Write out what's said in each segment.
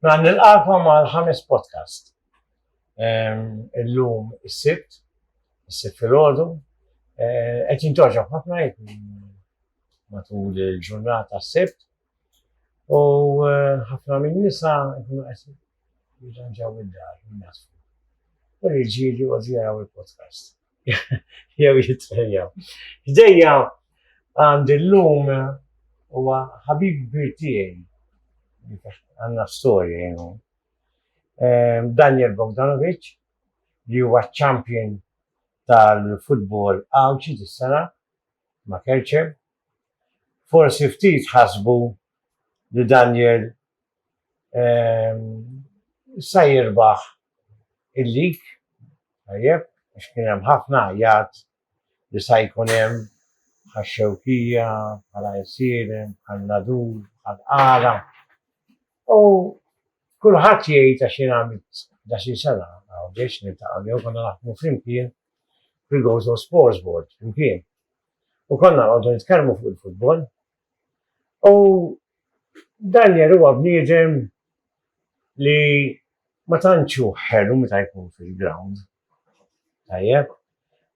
Mela nilqakom għal ħames podcast. Illum is-Sibt, is-Sibt filgħodu, eh, qed jintoġa ħafna matul il-ġurnata s-Sibt u eh, ħafna minn nisa jkunu qed jirranġaw id-dar minn U l-ġili u il-podcast. jew jitfejja. Ġdejja għandi l-lum huwa ħabib kbir tiegħi. Għandna storja jenu. Ehm, Daniel Bogdanovic li huwa champion tal-futbol għawċi dis-sena ma' Kerċeb. Forsi ftit ħasbu li Daniel Sa jirbaħ il-lig, tajjeb, għax kien hemm ħafna għajjat li sa jkun hemm bħal Xewkija, bħal Għajsieren, bħal Nadur, bħal Qara. U kulħadd jgħid għax jien għamilt da xi sena, għaw biex niltaqgħu jew konna naħdmu flimkien fil-Gozo Sports Board flimkien. U konna għodu nitkellmu fuq il-futbol, U Daniel huwa bniedem li ma tantx hu ħelu meta jkun fil-ground. Tajjeb?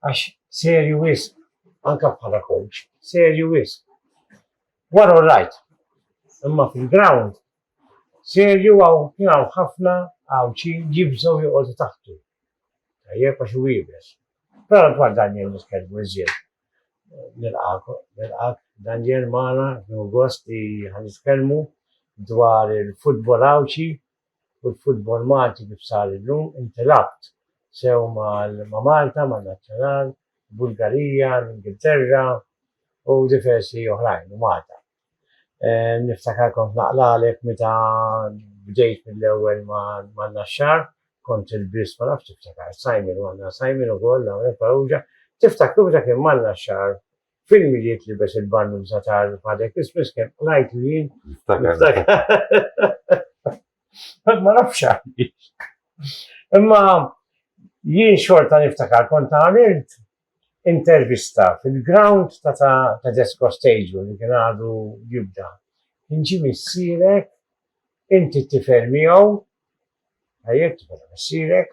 Għax serju wisq, anke bħala coach, serju wisq. Wara all right, imma fil-ground serju għaw kien hawn ħafna Għawdxin jibżgħu joqogħdu taħtu. Tajjeb għax hu iebes. Però dwar Daniel nitkellmu iżjed nilqak Daniel Mana, nħu gost li ħanitkellmu dwar il-futbol Għawdxi u l-futbol Malti kif sar illum. Inti labt sew ma' Malta, ma' Nazzjonal, Bulgarija, l-Ingilterra u diversi oħrajn u Malta. Niftakar kont naqlalek meta bdejt mill-ewwel ma' Naxxar, kont il-biss ma nafx tiftakar Simon u għandna Simon ukoll hawnhekk Farrugia, tiftakru meta kien ma' Naxxar fil-Milied libes il-bannuża ta' Father Christmas kemm qlajtlu jien? Niftakar. Ma nafx għaliex. Imma jien xorta niftakar kont għamilt Intervista, Fil-grawnd ta' ta' Tedesco Stadium li kien għadu jibda, kien ġie missierek, inti t-tifel miegħu, tajjeb tifel ta' missierek,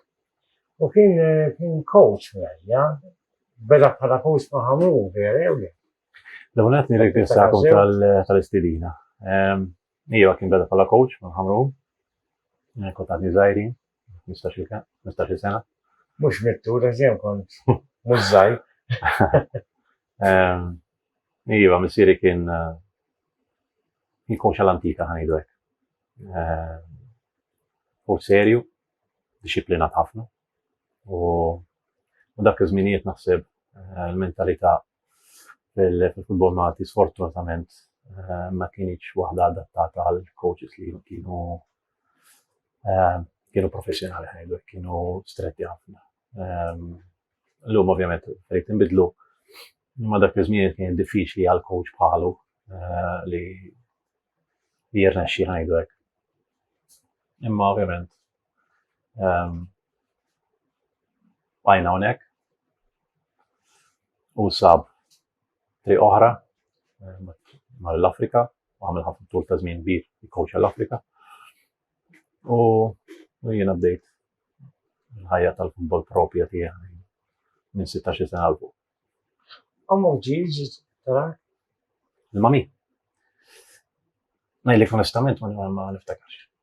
u kien kien coach miegħi, beda bħala coach ma' Ħamrun, vera jew le? L-ewwel nett nirringrazzjakom tal-istedina. Iva kien beda bħala coach ma' Ħamrun, kont għadni żgħirin. 15 sena. Mux mittu, reżjem kont, mux zaj. Ehm, iva, missiri kien eh, kien koċa l-antika ħanidu hekk. Ehm, u serju, disciplinat ħafna. U dak iż-żminijiet naħseb eh, l-mentalità fil-futbol Malti sfortunatament eh, ma kienx waħda adattata għal coaches li kienu eh, kienu professjonali ħajdu, kienu stretti ħafna. Ehm, l-lum ovvjament fejt nbidlu, imma dak iż-żmien kien diffiċli għal coach bħalu eh, li jirna xi ħajdu hekk. Imma ovvjament ehm, bajna hawnhekk u sab triq oħra mar l-Afrika, u għamil ħafna tul ta' żmien kbir jikkowċa l-Afrika. U jiena bdejt il-ħajja tal-futbol propja tiegħi minn 16 sena l fuq. Ommu ġiġi tara? Il-mami. Najlik onestament ma niftakarx.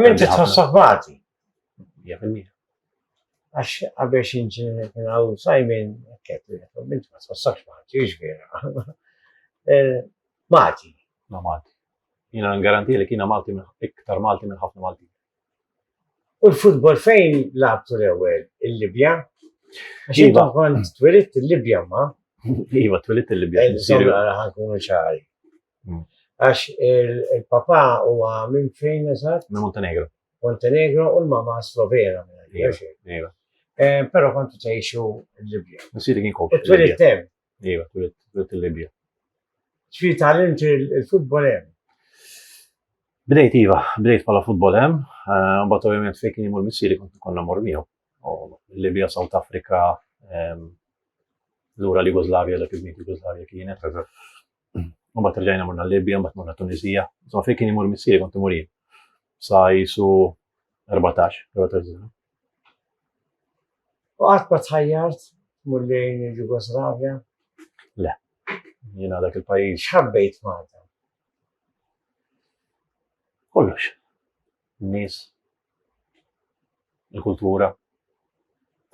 Minn ti tħossok bati. Għax għabiex inġi kien għaw sajmin, kett, minn ti tħossok bati, jiex vera. Mati. Ma Malti. Jina n-garanti li kiena Malti iktar Malti minn ħafna Malti. U l-futbol fejn labtu l-ewel? Il-Libja? Ġiba iva. kont twilit il-Libja ma? Iva, twilit il-Libja. Nsir għara ħankun ċari. Għax il-papà huwa minn fejn eżatt? Minn Montenegro. Montenegro u l-mamà Slovena minn hekk. Iva, iva. Eh, però kontu tgħixu l-Libja. Missieri kien kont. Twilit hemm. Iva, twilit il-Libja. Ġifieri tgħallimt il-futbol hemm. Bdejt iva, bdejt bħala futbol hemm, eh, mbagħad ovvjament fejn kien imur missieri kont konna mor miegħu. Libja, South Africa, ehm, lura l-Jugoslavja, dak iż-żmien Jugoslavja kienet. Mbagħad rġajna morna l-Libja, mbagħad morna Tunisija. Insomma, fejn kien imur missieri kont imur jien. Sa jisu 14, 14 sena. U qatt ma tħajjart mur lejn il-Ġugoslavja? Le. Jiena dak il-pajjiż. X'ħabbejt Malta? Kollox. Nies. Il-kultura.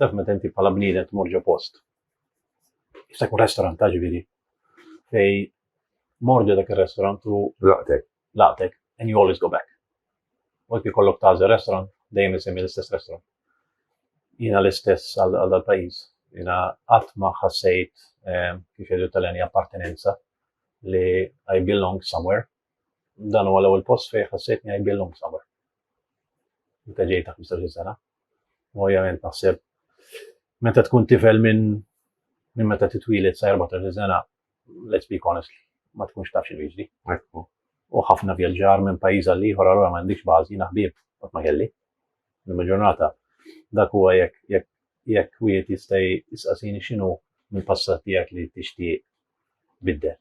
Taf meta inti bħala bniedem tmur ġo post Jista' jkun restaurant ta' ġifieri. Fej mordu dak ir-restaurant u laqtek. Laqtek and you always go back. Waqt li kollok tażel restaurant, dejjem isemmi l-istess restaurant. Jiena l-istess għal dal-pajjiż. Jiena qatt ma ħassejt eh, kif jgħidu tal-għani appartenenza li I belong somewhere. Dan huwa l-ewwel post fejn ħassejtni I belong somewhere. meta ġej ta' 15 sena. U ovvjament naħseb meta tkun tifel minn minn meta titwilet sa 14 sena, let's be honest, ma tkunx taf xinu jiġri. U ħafna vjaġġar minn pajjiż għal ieħor allura ma għandix bażi naħbieb qatt ma kelli. Nima ġurnata dak huwa jekk jekk jekk wieħed jista' jisqasini x'inhu mill-passat tiegħek li tixtieq biddel.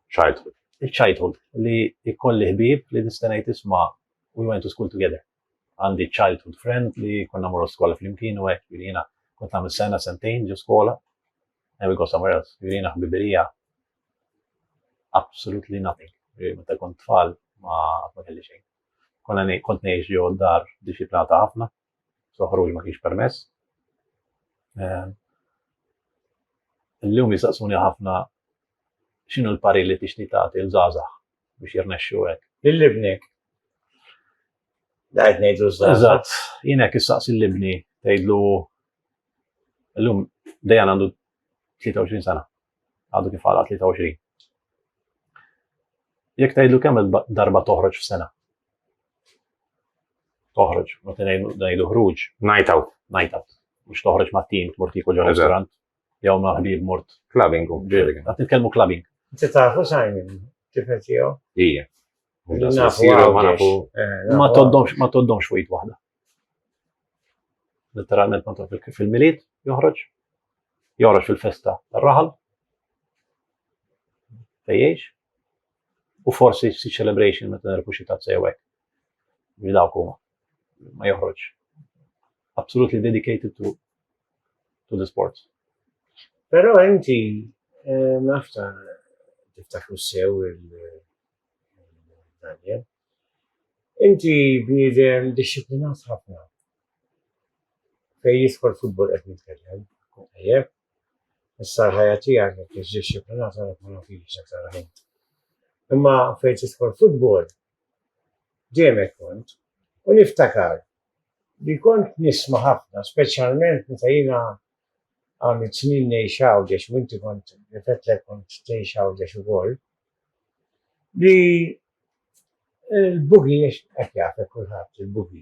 Childhood. Il-childhood li jkolli ħbib li distenajt isma' we went to school together. Għandi childhood friend li konna morru skola flimkien u hekk jirina kont nagħmel sena sentejn ġo skola and we go somewhere else. Jirina ħbibirija absolutely nothing. Meta kont tfal ma ma kelli xejn. Konna kont ngħix ġo dar disciplinata ħafna so ħruġ ma kienx permess. Eh, illum jisaqsuni ħafna xinu l-pari li tixti tagħti l-żgħażagħ biex jirnexxu hekk. Lill-ibnek. Dajt ngħidlu żgħażagħ. Eżatt, jien hekk issaqsi l-ibni tgħidlu illum dejjan għandu 23 sena. Għadu kif għala 23. Jekk tgħidlu kemm darba toħroġ f'sena. Toħroġ, ma tinajn najdu ħruġ. Night out. Night out. Mux toħroġ ma tim, tmur tiku ġo restaurant. Jaw ma ħbib mort. Clubbing. Għat nitkelmu clubbing. Ti tafu sajmin, kifet jew? Ija. Eh, ma toddomx, ma toddomx wejt wahda. Letteralment ma toddomx fil-miliet, joħroġ. Joħroġ fil-festa, raħal. Fejjex. U forsi xi celebration meta nerpu xi tazza jew hekk. Li dawk huma. Ma joħroġ. Absolutely dedicated to to the sports. Però inti eh, nafta tiftakru sew il-Daniel. Inti bniedem disciplinat ħafna. Fej jidħol futbol qed nitkellem. Issa l-ħajja tiegħek jekk hix dixxiplinata dak ma nafhiex aktar ħin. Imma fejn tidħol futbol dejjem hekk kont u niftakar li kont nisma' ħafna speċjalment meta jiena għamilt snin ngħix Għawdex u inti kont nifetlek kont tgħix Għawdex ukoll li l-bugi hekk jafek kulħadd il-bugi.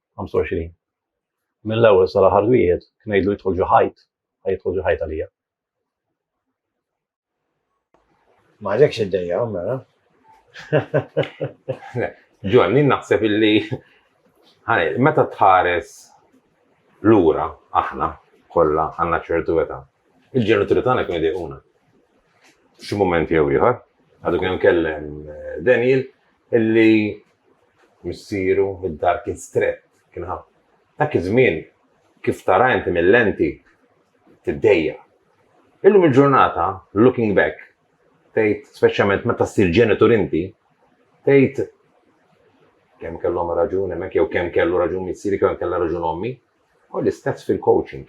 25. Mill-ewwel sa l-aħħar wieħed kien ngħidlu jidħol ġo ħajt, ħaj jidħol ġo ħajt għalija. Ma għalekx id-dejja, mela. Ġonni, naħseb illi meta tħares lura aħna kollha għandna ċertu età. Il-ġenituri tagħna kienu dejquna. Xi moment jew ieħor, għadu kien kellem eh, Daniel illi missieru, id-dar kien strett, kien ħa. Dak iż-żmien, kif tara inti mil-lenti, tiddejjaq. Illum il-ġurnata, looking back, tgħid speċjalment meta ssir ġenitur inti, tgħid kemm kellhom raġun hemmhekk jew kemm kellu raġun missieri kemm kellha raġun ommi, Hu l-istess fil-coaching.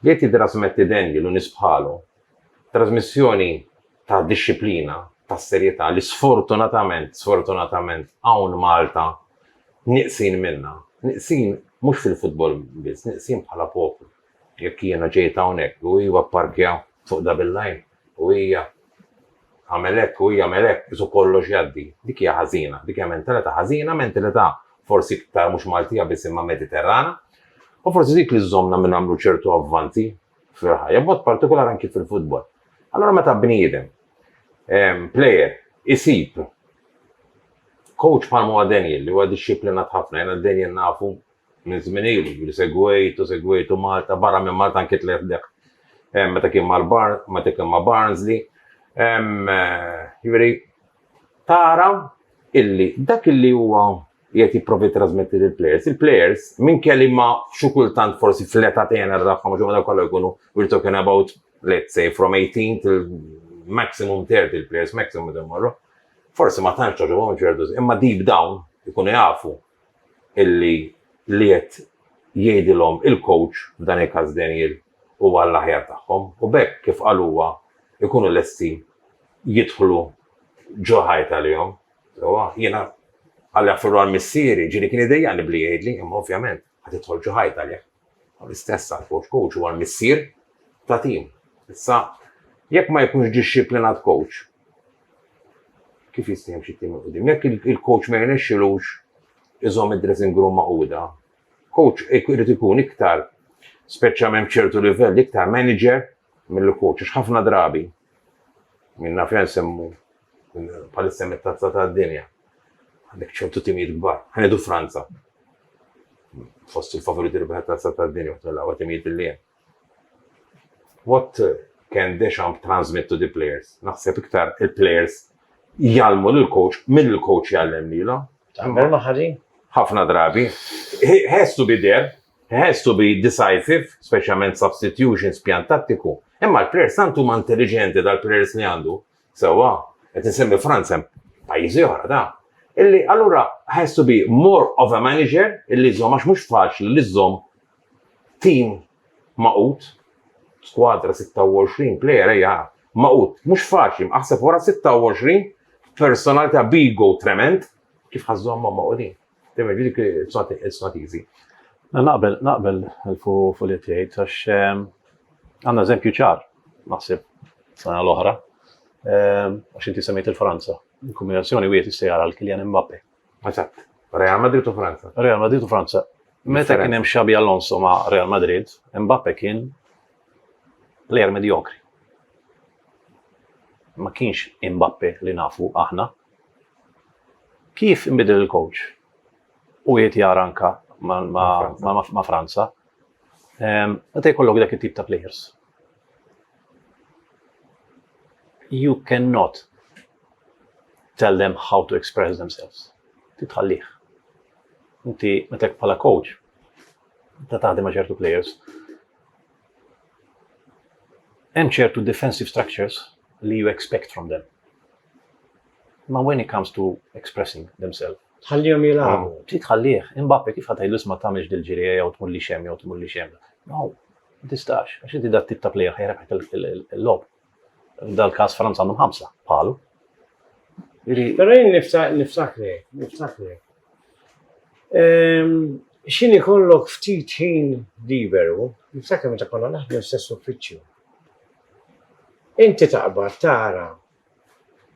Li titrasmetti den lil nies bħalu, trasmissjoni ta' dixxiplina, ta' serjetà li sfortunatament, sfortunatament hawn Malta nieqsin minnha. Nieqsin mhux fil-futbol biss, nieqsin bħala poplu. Jekk jiena ġejt hawnhekk u hu apparkja fuq Double Line, U hija tagħmel hekk, hu jagħmel hekk, qisu kollox jgħaddi. Dik hija ħażina, dik hija mentalita' ħażina, mentalita' forsi iktar mhux Maltija biss imma Mediterrana. U forsi dik li żżommna minn nagħmlu ċertu avvanzi fil-ħajja, b'mod partikolar anki fil-futbol. Allura meta bniedem, plejer, isib coach bħal m'huwa Daniel li huwa dixxiplinat ħafna, jiena Daniel nafu Minn żmien ilu li segwejt u segwejtu Malta, barra minn Malta anki tlajt lejh meta kien mal meta kien ma' Barnsley. Jiġifieri tara illi dak illi huwa qiegħed jipprova jittrasmetti lill-plejers, il-plejers minkejja li ma xi kultant forsi fl-età tenra tagħhom għax huma dawn kollha jkunu we are talking about let's say from eighteen till maximum thirty il-plejers maximum meta jmorru, forsi ma tantx togħġobhom ċertu imma deep down ikunu jafu illi li qed jgħidilhom il-coach, f'dan il-każ Daniel, huwa għall-aħjar tagħhom u b'hekk, kif qal huwa, ikunu lesti jidħlu ġo ħajt għalihom. Sewwa, jiena għalli nfirru għal missieri, ġieli kien idejjaqni b'li jgħidli, imma ovvjament, ħa tidħol ġo ħajt għalih. Huwa l-istess għall-coach. Coach huwa l-missier ta' tim. Issa, jekk ma jkunx dixxiplinat coach, kif jista' jimxi tim 'il quddiem? Jekk il-coach ma jirnexxilux iżomm id-dressing room magħquda, coach irid ikun iktar, speċjalment f'ċertu livelli, iktar manager milli coach. Għax ħafna drabi, min naf jien nsemmu Palissa mit-tazza ta' dinja. Għandek ċertu timijiet kbar. Ħenedu Franza. Fost il-favoriti li bħet tazza ta' dinja u l-għawa timijiet li jen. What can Deschamps transmit to the players? Naħseb iktar il-players jgħalmu l-coach minn il-coach jgħallem li l-om. Għamber maħħari? ħafna drabi. Has to be there, has to be decisive, specialment substitution spjantattiku. Imma l-players santu ma intelligenti dal-players li għandu Sewwa, qed insemmi Franza hemm pajjiżi oħra ta'. Illi allura has to be more of a manager illi jżomm għax mhux faċli li żżomm tim magħqud, skwadra 26 plejer ejja magħqud, mhux faċli, aħseb wara 26 personalità b'ego tremend kif ħa żżommhom magħqudin. Dejjem jiġri dik il-strativi. Naqbel, naqbel fuq li tgħid għax ehm, għandna eżempju ċar, naħseb sena l-oħra, ehm, għax inti semmejt il-Franza. Il-kombinazzjoni wieħed jista' jara l-Kylian Mbappe. Eżatt. Real Madrid u Franza. Real Madrid u Franza. Meta kien hemm Xabi Alonso ma' Real Madrid, Mbappe kien plejer medjokri. Ma kienx Mbappe li nafu aħna. Kif inbidel il-coach? U qiegħed jara anke ma' Franza. Ehm, meta jkollok dak it-tip ta' players. You cannot tell them how to express themselves. Titħallih. Inti metek bħala coach, ta' taħdem ma' ċertu players, Hemm ċertu defensive structures li you expect from them. Ma when it comes to expressing themselves. Tħallihom jilagħbu. Oh, trid tħallih, imbappi kif ħatajlu isma' tagħmilx dil-ġirija jew tmur li xem jew tmur li xem. No, ma tistax, għax inti dat tip ta' plejer ħajrek il-lob. Dal-każ Franza għandhom ħamsa bħalu. Però jien niftakri, niftakri. Ehm, Xin ikollok ftit ħin liberu, niftakri meta konna naħdmu stess uffiċċju. Inti taqbad tara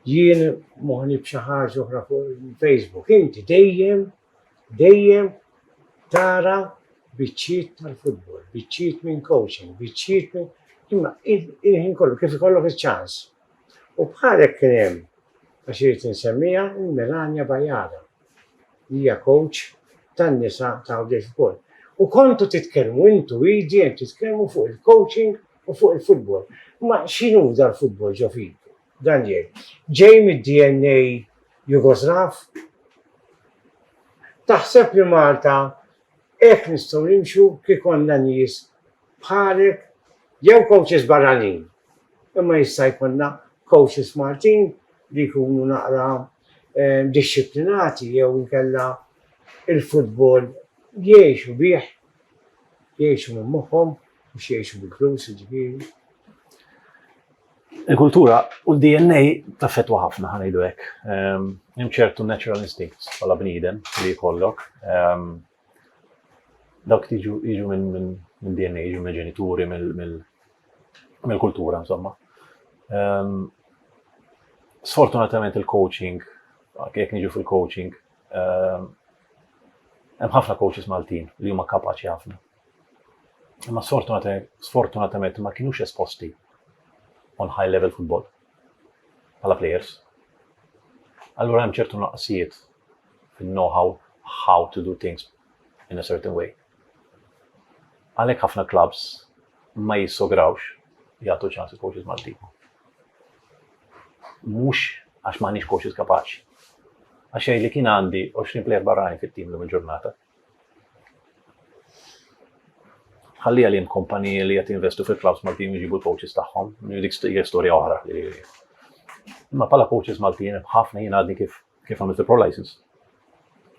jien moħni b'xi ħaġa oħra fuq Facebook, inti dejjem dejjem tara biċċiet tal-futbol, biċċiet minn coaching, biċċiet minn imma il-ħin kollu kif ikollok iċ-ċans. U bħalek kien hemm għax irid insemmija Melania Bajara. Hija coach tan-nisa ta' Għawdex ukoll. U kontu titkellmu intu idi titkellmu fuq il-coaching u fuq il-futbol. Ma x'inhu dal-futbol ġo fiku? Dan jgħid, ġej mid-DNA Jugoslav? Taħseb li Malta hekk nistgħu nimxu kif konna nies bħalek jew coaches barranin? Imma jista' jkollna coaches Maltin li jkunu naqra dixxiplinati jew inkella il-futbol jgħixu bih, jgħixu minn moħħhom mhux jgħixu bil-flus jiġifieri. Il-kultura u l-DNA taffettwa ħafna ħa ngħidu hekk. Ehm, hemm ċertu natural instincts bħala bniedem li jkollok. Ehm, dawk tiġu jiġu minn DNA, jiġu minn ġenituri, mill-kultura, insomma. Ehm, sfortunatament il-coaching, jekk niġu fil-coaching, hemm ħafna coaches Maltin li huma kapaċi ħafna Imma sfortunatament ma kienux esposti on high level football bħala players. Allura hemm ċertu naqsijiet fin-know-how how to do things in a certain way. Għalhekk ħafna clubs ma jissograwx jagħtu ċans il-coaches Malti. Mhux għax m'għandniex coaches kapaċi. Għax li kien għandi 20 player barrajn fit-tim l ġurnata Ħalli għalihom kumpaniji li qed jinvestu fil-clubs Maltin jġibu l-coaches tagħhom, dik hija storja oħra. Imma bħala coaches Maltin hemm ħafna jien għadni kif kif għamilt il-pro license.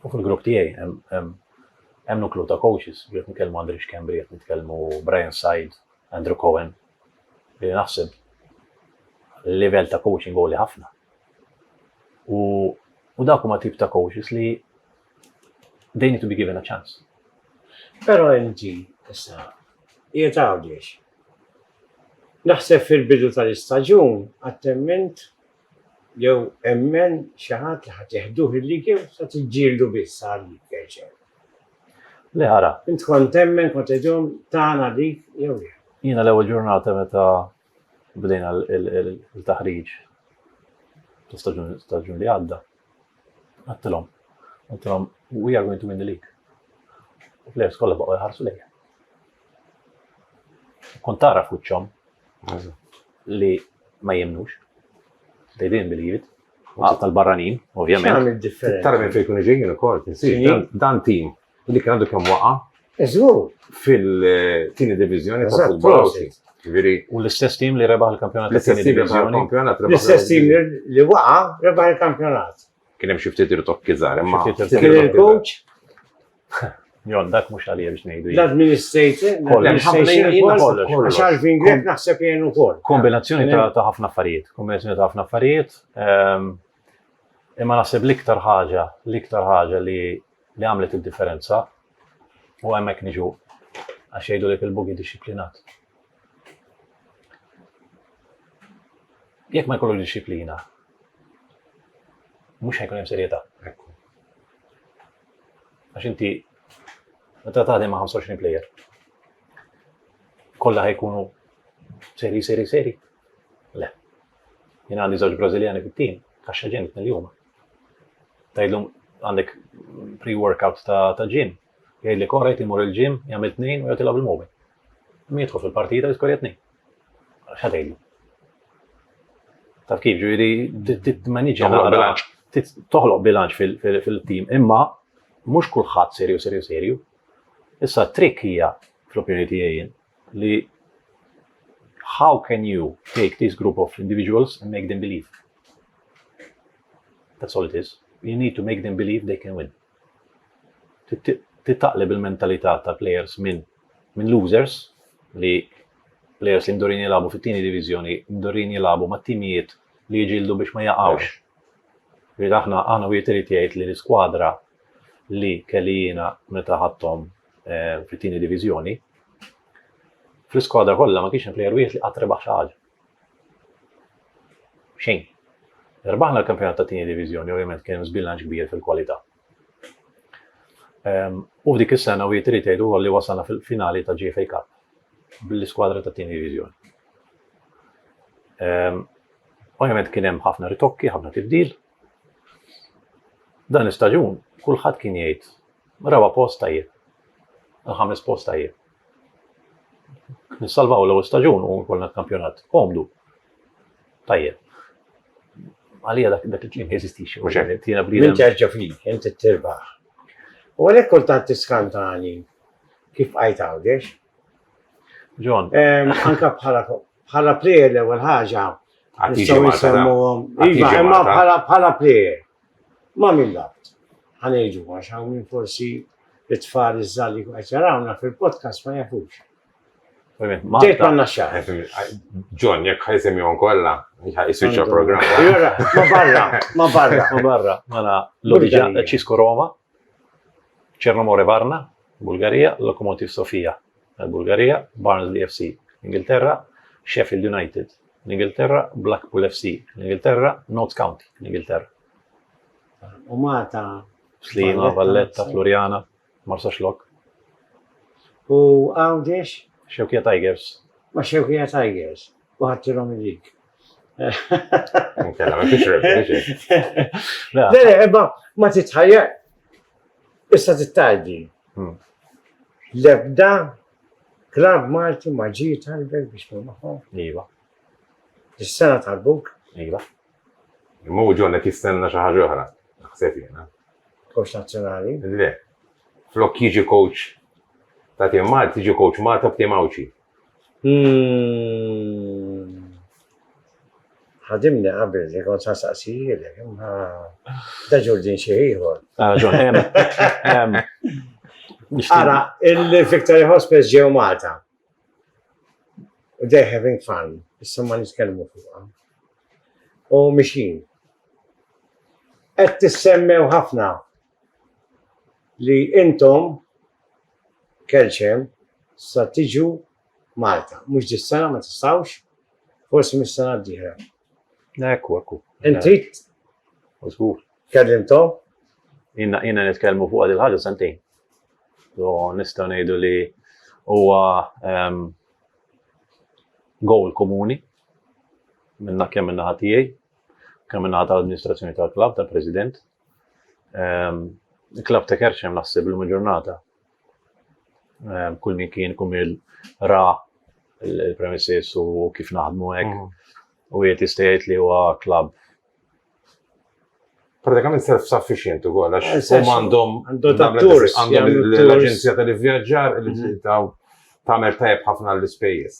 U fil-grupp tiegħi hemm nuklu ta' coaches, qed nitkellmu Andri Xkembri, qed nitkellmu Brian Said, Andrew Cohen, li naħseb level ta' coaching għoli ħafna. U dak huma tip ta' coaches li They need to be given a chance. Però inti, issa, qiegħed Għawdex. Naħseb fil-bidu tal-istaġun qatt temmint jew emmen xi ħadd li ħadd jeħduh il-lig jew sa tiġġieldu biss għal dik għeġel. Le ara. Int kont temmen kont idhom tagħna dik jew le? Jiena l-ewwel ġurnata meta bdejna l-taħriġ ta' staġun li għadda. Għattilom, għattilom, we are going to win the league. U players kolla baqqa jħarsu lejja. Kont tara fuċċom li ma jemnux. They didn't believe it. Għal tal-barranin, ovvjament. Tara minn fejkun iġin, jenu kol, dan tim U dik għandu kemm waqa'? Eżur. Fil-tieni divizjoni ta' futbol. Ġifieri. U l-istess tim li rebaħ il-kampjonat. L-istess tim li rebaħ il-kampjonat. L-istess tim li waqa' rebaħ il-kampjonat. Kien hemm xi ftit irtok kiżar, imma. Kien il-coach. Jon, dak mhux għalija biex ngħidu. L-administrator, l-administrator, għax għalfin grek naħseb jgħin ukoll. Kombinazzjoni ta' ħafna affarijiet, kombinazzjoni ta' ħafna affarijiet. Ehm, Imma naħseb l-iktar ħaġa, l-iktar ħaġa li li għamlet id-differenza u hemmhekk niġu għax jgħidulek il-bugi dixxiplinat. Jekk ma jkollu dixxiplina, mhux ħajkun hemm serjetà. Għax inti meta taħdem ma' 25 player. Kollha ħajkunu seri, seri, seri. Le, Jien għandi żewġ Brażiljani fit-tim, kaxxa ġim tnelli huma. Tgħidlhom għandek pre-workout ta' ġim, jgħidlek ora jgħid imur il-ġim, jagħmel tnejn u jgħid ilgħab il-mobil. Min jidħol fil-partita jiskorja tnejn. Xa tgħidlu? Taf kif ġifieri titmaniġġa bilanċ. Toħloq bilanċ fil-tim, imma mhux kulħadd serju serju serju. Issa t-trik hija fl-opinjoni tiegħi li how can you take this group of individuals and make them believe? That's all it is. You need to make them believe they can win. Titaqleb il-mentalità ta' players minn min losers li players li mdurin jilabu fit-tieni divizjoni, mdurin jilabu ma' timijiet li jġildu biex ma jaqawx. Rrid aħna aħna wieħed irid jgħid li l-iskwadra li kelli jiena meta ħadthom eh, fit-tieni diviżjoni, fl-iskwadra kollha ma kienx hemm plejer wieħed li qatt rebaħ xi ħaġa. Xejn. Rbaħna l-kampjonat ta' tieni diviżjoni ovvjament kien żbilanċ kbir fil-kwalità. Ehm, u f'dik is-sena u jitri tgħidu li wasalna fil-finali ta' GFA Cup bl-iskwadra ta' tieni diviżjoni. Ehm, ovvjament kien hemm ħafna ritokki, ħafna tibdil, Dan l-istaġun kulħadd kien jgħid raba' post tajjeb, il-ħames post tajjeb. Nissalvaw l-ewwel staġun u nkollna kampjonat komdu. Tajjeb. Għalija dak dak il-klim jeżistix. Tiena bli. Min terġa' fik, inti tirbaħ. U għalhekk kultant tiskantani kif qajt għawdex, John. Anka bħala bħala plejer l-ewwel ħaġa. Nistgħu nsemmuhom. Iva, imma bħala bħala plejer. Ma minn dabt. Ħanejġu għax hawn minn forsi it-tfal iż-żalli qed jarawna fil-podcast ma jafux. Ġejt għanna xaħ. John, jek ħajsim jom kolla, jisuċa program. Ma barra, ma barra. Ma barra, ma la l-origina ċisko Roma, ċernomore Varna, Bulgarija, Lokomotiv Sofia, tal-Bulgarija, Barnsley FC, l-Ingilterra, Sheffield United, l-Ingilterra, Blackpool FC, l-Ingilterra, Notts County, l-Ingilterra. U Malta. Slima, Valletta, Floriana, Marsa Xlok. U Għawdex? Xewkija Tigers. Ma Xewkija Tigers. u ħattirhom ilik. Inkella ma fiex rebbi. Ma ma titħajja. Issa tittajdi. Hmm. Lebda klab Malti ma ġi talbek biex ma maħħom. Iva. Is-sena tal-buk. Iva. Imma u ġonna kistenna xi ħaġa oħra. Naħseb jiena. Coach nazzjonali. Le. Flok jiġi coach ta' tim Malti, jiġi coach Malta b'tim Awċi. Ħadimni qabel li kont sa saqsijilek, imma da ġurdin xi ieħor. Ah, Ara, il-Victory Hospice ġew Malta. They're having fun, issa ma nitkellmu fuqha. U mixin. Qed tissemmew ħafna li intom kelċem sa tiġu Malta. Mhux dis-sena ma tistgħux, forsi mis-sena d-dieħla. Ekku, ekku. Inti? Żgur. Kellimtom? Jina jina nitkellmu fuq il ħaġa sentejn. So nistgħu ngħidu li huwa ehm, goal komuni minna kemm minna ħatijaj, kemm minna ħat amministrazzjoni tal-klab, tal-president, Ehm, il-klab ta' Kerċem naħseb l ġurnata. Ehm, kull min kien kum il-ra il-premises u kif naħdmu hekk. Mhm. U jiet jistajt li huwa klab pratikament self-sufficient u għol, għax eh, u għandhom l-Aġenzija tal-Vjaġġar li mhm. taw tamer tajb ħafna l-ispejjeż.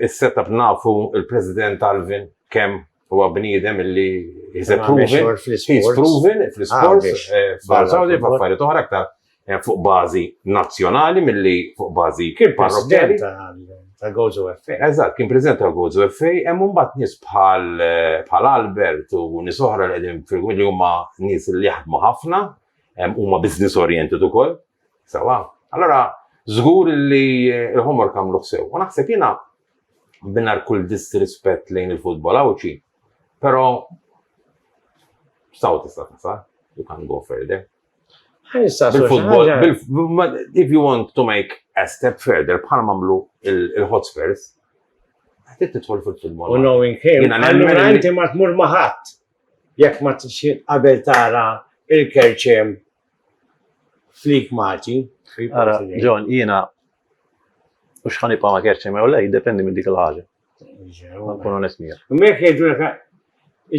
Is-setup nafu il-President Alvin kemm Huwa bniedem illi is proven fl-isports, f'Saudi, eh, f'affarijiet oħra aktar eh, fuq bażi nazzjonali milli fuq bażi kien parrokkjali. Ta' Gozo FA. Eżatt, kien preżent ta' Gozo FA, hemm mbagħad nies bħal eh, bħal Albert u nies oħra li qegħdin fil li huma nies li jaħdmu ħafna, huma business oriented ukoll. Sawa. Allora, żgur li l-homor kamlu sew. U naħseb jiena mingħajr kull disrispett lejn il-futbol Għawdxi, però saw tista' tasal, you can't go further. Bil-futbol, if you want to make a step further, bħal mamlu il-Hotspurs, għatit titħol fil-futbol. U knowing him, għallura inti ma tmur maħat, jekk ma t-xin qabel tara il-kerċem Flik Marti. Ara, John, jiena u xħan ipa ma kerċi ma jolej, dependi minn dik l-ħagġa. Nkun onest mija. Mek jgħidu l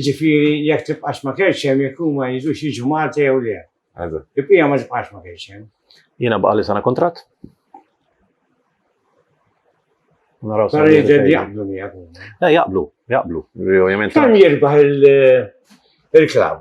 ġifiri jek tibqax ma kerċi hemm jekk huma jiġu jiġu Malta jew le. Ibqija ma tibqax ma kerċi hemm. Jiena baqa' li sana kontratt. Naraw sa. Jaqblu miegħek. Eh, jaqblu, jaqblu. Ovvjament. Kemm jirbaħ il-klaw?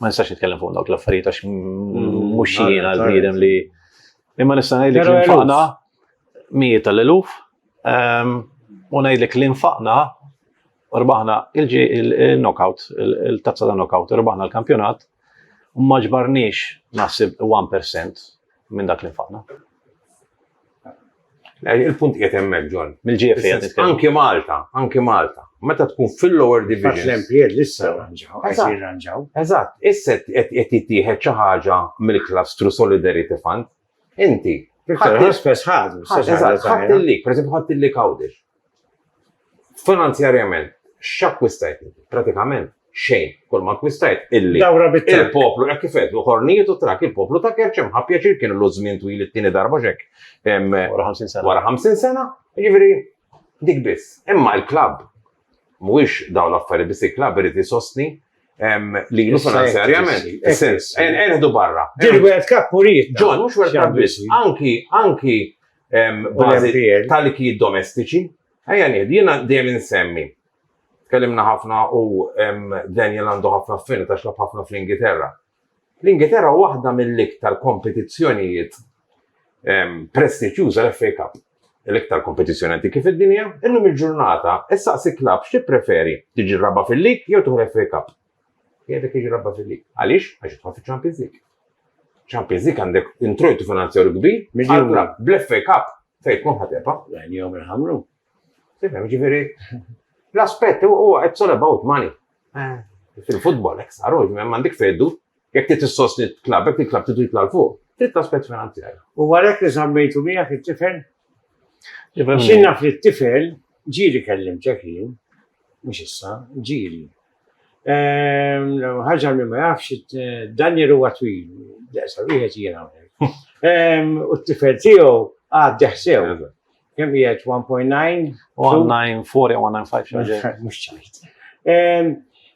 Ma nistax nitkellem fuq dawk l-affarijiet għax mhux mm, jiena l-bniedem li. Imma nista' ngħidlek li nfaqna mijiet tal-eluf ehm, u ngħidlek li nfaqna rbaħna il-knockout, il-tazza ta' knockout, rbaħna l-kampjonat, u maġbarniex naħseb 1% minn dak li nfaqna. Eh, il-punt qiegħed hemmhekk, John. Mill-GFA Anki Malta, anki Malta. Meta tkun fil-lower division. L-empjed issa ranġaw, qed ranġaw. Eżatt, issa qed jittieħed xi ħaġa mill-klastru Solidarity Fund. Inti. Ħadd il-lik, per eżempju, ħadd il-lik għawdex. Finanzjarjament, x'akkwistajt? Pratikament xejn. Kull ma akkwistajt illi Dawra bit-trakk. il-poplu hekk kif għedlu ħornijiet u trakk il-poplu ta' Kerċ hemm ħabb pjaċir kien ilu żmien twil it-tieni darba x'hekk em, Wara 50 sena. wara 50 sena, jiġifieri dik biss. Imma l-klabb mhuwiex dawn l-affarijiet biss il-klabb irid isostni em, lilu Issa hekk finanzjarjament. trissi, hekk Is-sens, trissi. en- enħdu barra. Dil World Cup uriet. John, mhux World Cup biss, anki, anki tal-ikijiet domestiċi. Ejja ngħid, jiena dejjem insemmi. Tkellimna ħafna u Daniel għandu ħafna affini ta' xlab ħafna fl-Ingilterra. L-Ingilterra waħda mill-iktar kompetizzjonijiet prestiġjuża l-FA Cup. L-iktar kompetizzjoni għanti kif id-dinja, illum il-ġurnata, issa si klab x'ti preferi tiġi raba fil-lig jew tuħu l-FA Cup. Qiegħdek jiġi rabba fil-lig. Għaliex? Għax jidħol fiċ-Champions League. Champions League għandek introjtu finanzjarju kbir għal bl-FA Cup fejn tkun ħatepa. Għajni jom il-ħamru. Sifem, ġifiri, l-aspet huwa it's all about money. Eh. Fil-futbol, ek saru, mandik feddu, jek ti t-sosni t-klab, jek ti t-klab t titla l-fuq, trid aspet finanzjarju. U għalek li zammejtu mija fit tifel Xinna fit tifel ġiri kellim ċekin, mux issa, ġiri. Ħaġa li ma jafx, Daniel huwa twil, daqsa wieħed jiena hawnhekk. U t-tifel tiegħu għaddi ħsew. Kemm qiegħed 1.9? 1.94 jew 1.95. Mhux ċajt.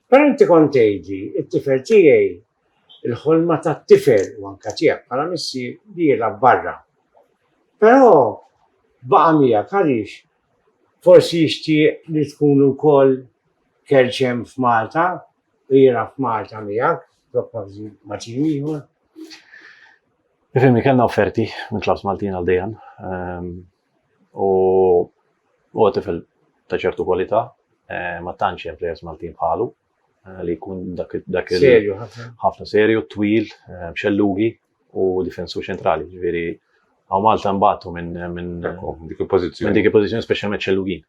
Però inti kont tgħidli, it-tifel tiegħi il-ħolma tat-tifel u anka tiegħek bħala missi li jilgħab barra. Però baqa' miegħek għaliex forsi jixtieq li tkun ukoll kerċem f'Malta u jira f'Malta miegħek, propożi ma' tim ieħor. Fimni kellna offerti minn klabs Maltin għal dejjem ehm, u u tifel ta' ċertu kwalità eh, ma tantx hemm players Maltin bħalu eh, li jkun dak il ħafna serju, twil, eh, xellugi u difensu ċentrali, ġifieri għaw Malta mbagħtu minn dik il-pożizzjoni. Minn dik il-pożizzjoni speċjalment xellugin.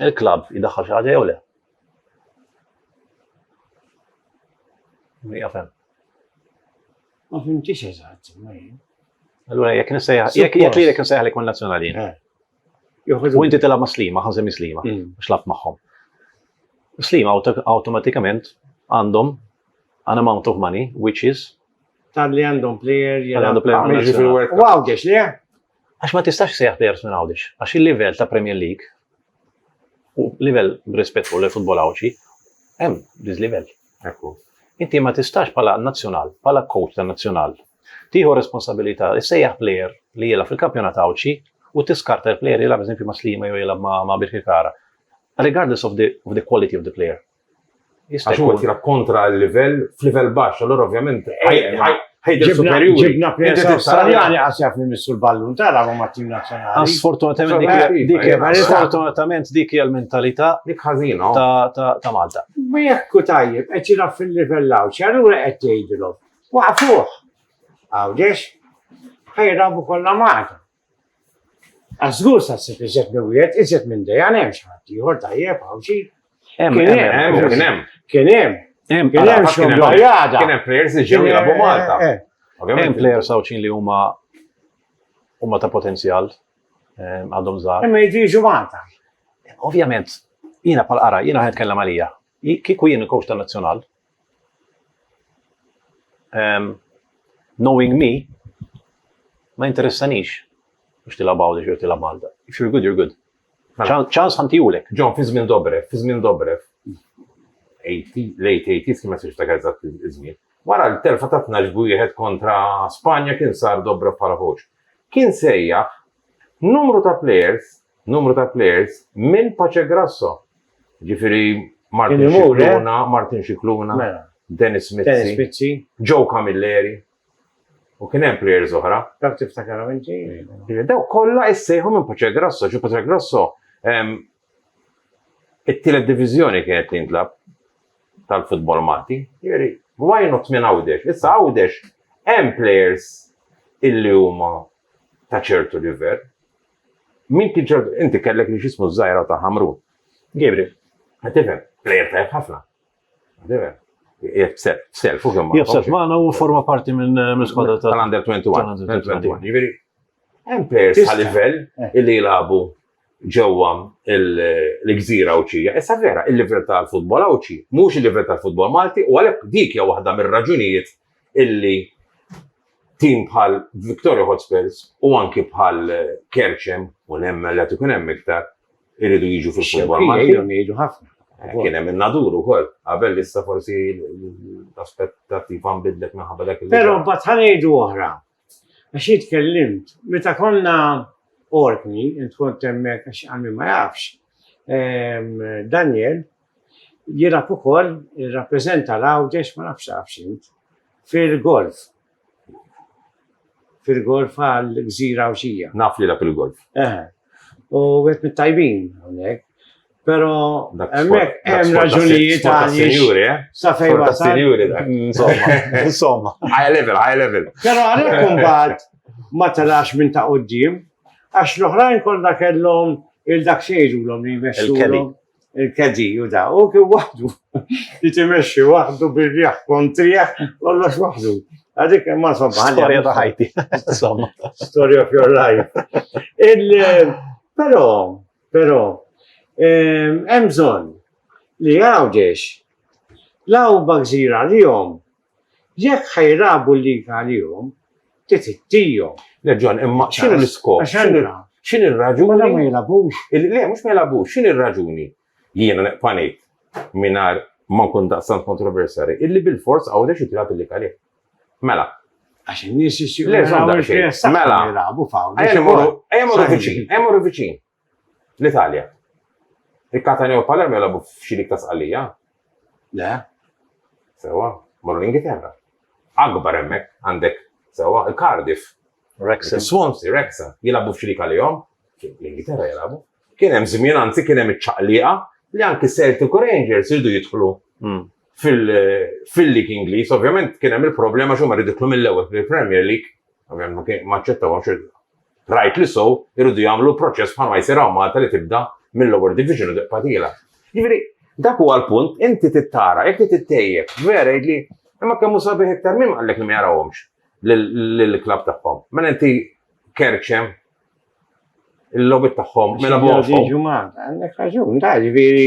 Il-klabb jdaħħal xi ħaġa jew le? Jafem. Ma fimtix eżatt, ma jien. Allura jekk nsejħ, jekk jekk li jekk nsejħ li kun nazzjonali. Eh. U inti tilgħab ma' slima, ħażem slima, mm. xlab magħhom. Slima awtomatikament għandhom an amount of money, which is tal-li għandhom player jgħandhom player. Wow, għax li Għax ma tistax issejjaħ plejers minn Għawdex, għax il-livell ta' Premier League u livell b'rispett lejn futbol Għawdxi hemm diżlivell. Hekk hu. Inti ma tistax bħala nazzjonal, bħala coach tan-nazzjonal, tieħu responsabilità issejjaħ plejer li jilgħab fil-kampjonat Għawdxi u tiskarta l-plejer jilgħab eżempju ma' Sliema jew jilgħab ma' Birkirkara. Regardless of the, of the quality of the player. Għax huwa tira kontra l-livell, f'livell baxx, allora ovvjament ħajġib superjuri. Ġibna presa Awstraljani għas jaf minn missu l-ballun tara ma tim nazzjonali. Sfortunatament dik hija l-mentalità dik ħażina ta' Malta. Ma jekk tajjeb qed jilgħab fil-livell hawn, x'allura qed tgħidilhom. Waqfuh. Għawdex ħajrabu kollha Malta. Għax żgur sa ssib iżjed minn wieħed, iżjed minn dejja hemm xi ħadd ieħor tajjeb hawn xi. Hemm kien hemm kien hemm. Kien hemm. Hemm kien hemm xi bajjada. Kien hemm players li ġew jilagħbu Malta. Eh, eh, eh. Hemm players sawċin li huma huma ta' potenzjal għadhom żgħar. Imma jiġu Malta. Ovvjament, jiena pal-qara, jiena ħed kellem għalija. Kieku jien il-coach tan-nazzjonal, um, knowing me, ma interessanix biex tilab għawdex jew tilab Malta. If you're good, you're good. Mela. ċans ħantijulek. Ġon, fi żmien Dobrev, fi żmien Dobrev, 80, late 80s, ma siex ta' għazzat iż-żmien. Wara l-terfa ta' 12 wieħed kontra Spanja kien sar Dobrev bħala Kien sejjaħ numru ta' players numru ta' players minn Pacegrasso. Jiġifieri Martin Scicluna, Martin Scicluna, Dennis Mizzi, Joe Camilleri, u kien hemm players oħra. Dawk tiftakarhom inti? Dawk kollha issejħu minn Pacegrasso, ġu Pacegrasso it-tielet diviżjoni kienet tintlab tal-futbol Malti. Jiġifieri, why not minn Għawdex? Issa Għawdex hemm players illi huma ta' ċertu livell. Min kien ċert, inti kellek li xismu żgħira ta' Ħamrun. Gabriel, qed tifhem, plejer tajjeb ħafna. Tifhem. Jgħid self u kemm. Jgħid self magħna u forma parti minn squadra tal-Under 21. Jiġifieri, hemm plejers ta' livell eh. illi jilagħbu ġewwa l-gżira Awċija. Issa vera, il-livell tal-futbol Awċi, mhux il-livell tal-futbol Malti, u għalhekk dik hija waħda mir-raġunijiet illi tim bħal Victoria Hotspurs u anki bħal Kerċem u nemmen li tkun hemm iktar iridu jiġu fil-futbol Malti. Jiġu ħafna. Eh, kien hemm in-nadur ukoll, qabel issa forsi l-aspettattiva nbidlet minħabba dak il Però mbagħad ħanejdu oħra. Għax jitkellimt, meta konna orkni, int kont hemmhekk għax għammi ma jafx, ehm, Daniel, Jilgħab ukoll, irrappreżenta l-Għawdex ma nafx tafx int, fil-golf. Fil-golf għall-Gżira Għawdxija. Naf li jilgħab il-golf. Eh. U wieħed mit-tajbin hawnhekk. Però hemmhekk hemm raġunijiet għaliex. Eh? Sa fejn wasal. Insomma, insomma. High level, high level. Però għalhekk imbagħad ma telax minn ta' quddiem għax l-oħrajn kollha kellhom il-dak xejdu l-om li jmexxu. il-kedi u da, u kien waħdu, li timexxi waħdu bir-riħ kontriħ, kollox waħdu. Għadik ma somma. Storja ta' ħajti, somma. Story of your life. Pero, pero, hemm bżonn li għawdex l-għawba gżira li jom Jekk ħa jrabu l-liga għalihom, trid ittihom. Le Ġwann, imma x'inhu l-iskop? Għax allura. X'inhi r-raġuni. Mela ma jilagħbux. Le, mhux ma jilagħbux, x'inhi r-raġuni? Jiena neqpa' ngħid, mingħajr ma nkun daqstant kontroversjali, illi bilfors Għawdex irid jilgħab il-liga għalih. Mela. Għax in-nies jixtiequ jaraw il-Creazzata jilagħbu f'Għawdex. Ejja mmorru viċin, ejja mmorru viċin. L-Italja. Il-Catania u l-Palermo jilagħbu f'xi lig ta' Sqallija? Le. Sewwa, morru l-Ingilterra. Akbar hemmhekk, għandek, sewwa, il-Cardiff. Wrexham. Is-Swansea, Wrexham, jilagħbu f'xi lig għalihom? L-Ingilterra jilagħbu. Kien hemm żmien, anzi kien hemm iċ-ċaqliqa li anki Celtic u Rangers iridu jidħlu fil-lig Ingliż. Ovvjament kien hemm il-problema għax huma rridu jidħlu mill-ewwel fil-Premier League. Ovvjament ma aċċettawhomx Rajt li sew iridu jagħmlu l-proċess bħalma jsir hawn Malta li tibda mill-lower division u tibqa' tiela'. Jiġifieri dak huwa l-punt, inti trid tara, jekk trid ittejjeb, vera jgħidli imma kemm hu sabiħ iktar min qallek li ma jarawhomx lill-klabb tagħhom. Mela inti kerċem il-logħbiet tagħhom mela bogħhom. Jiġu Malta, għandek raġun, ta' ġifieri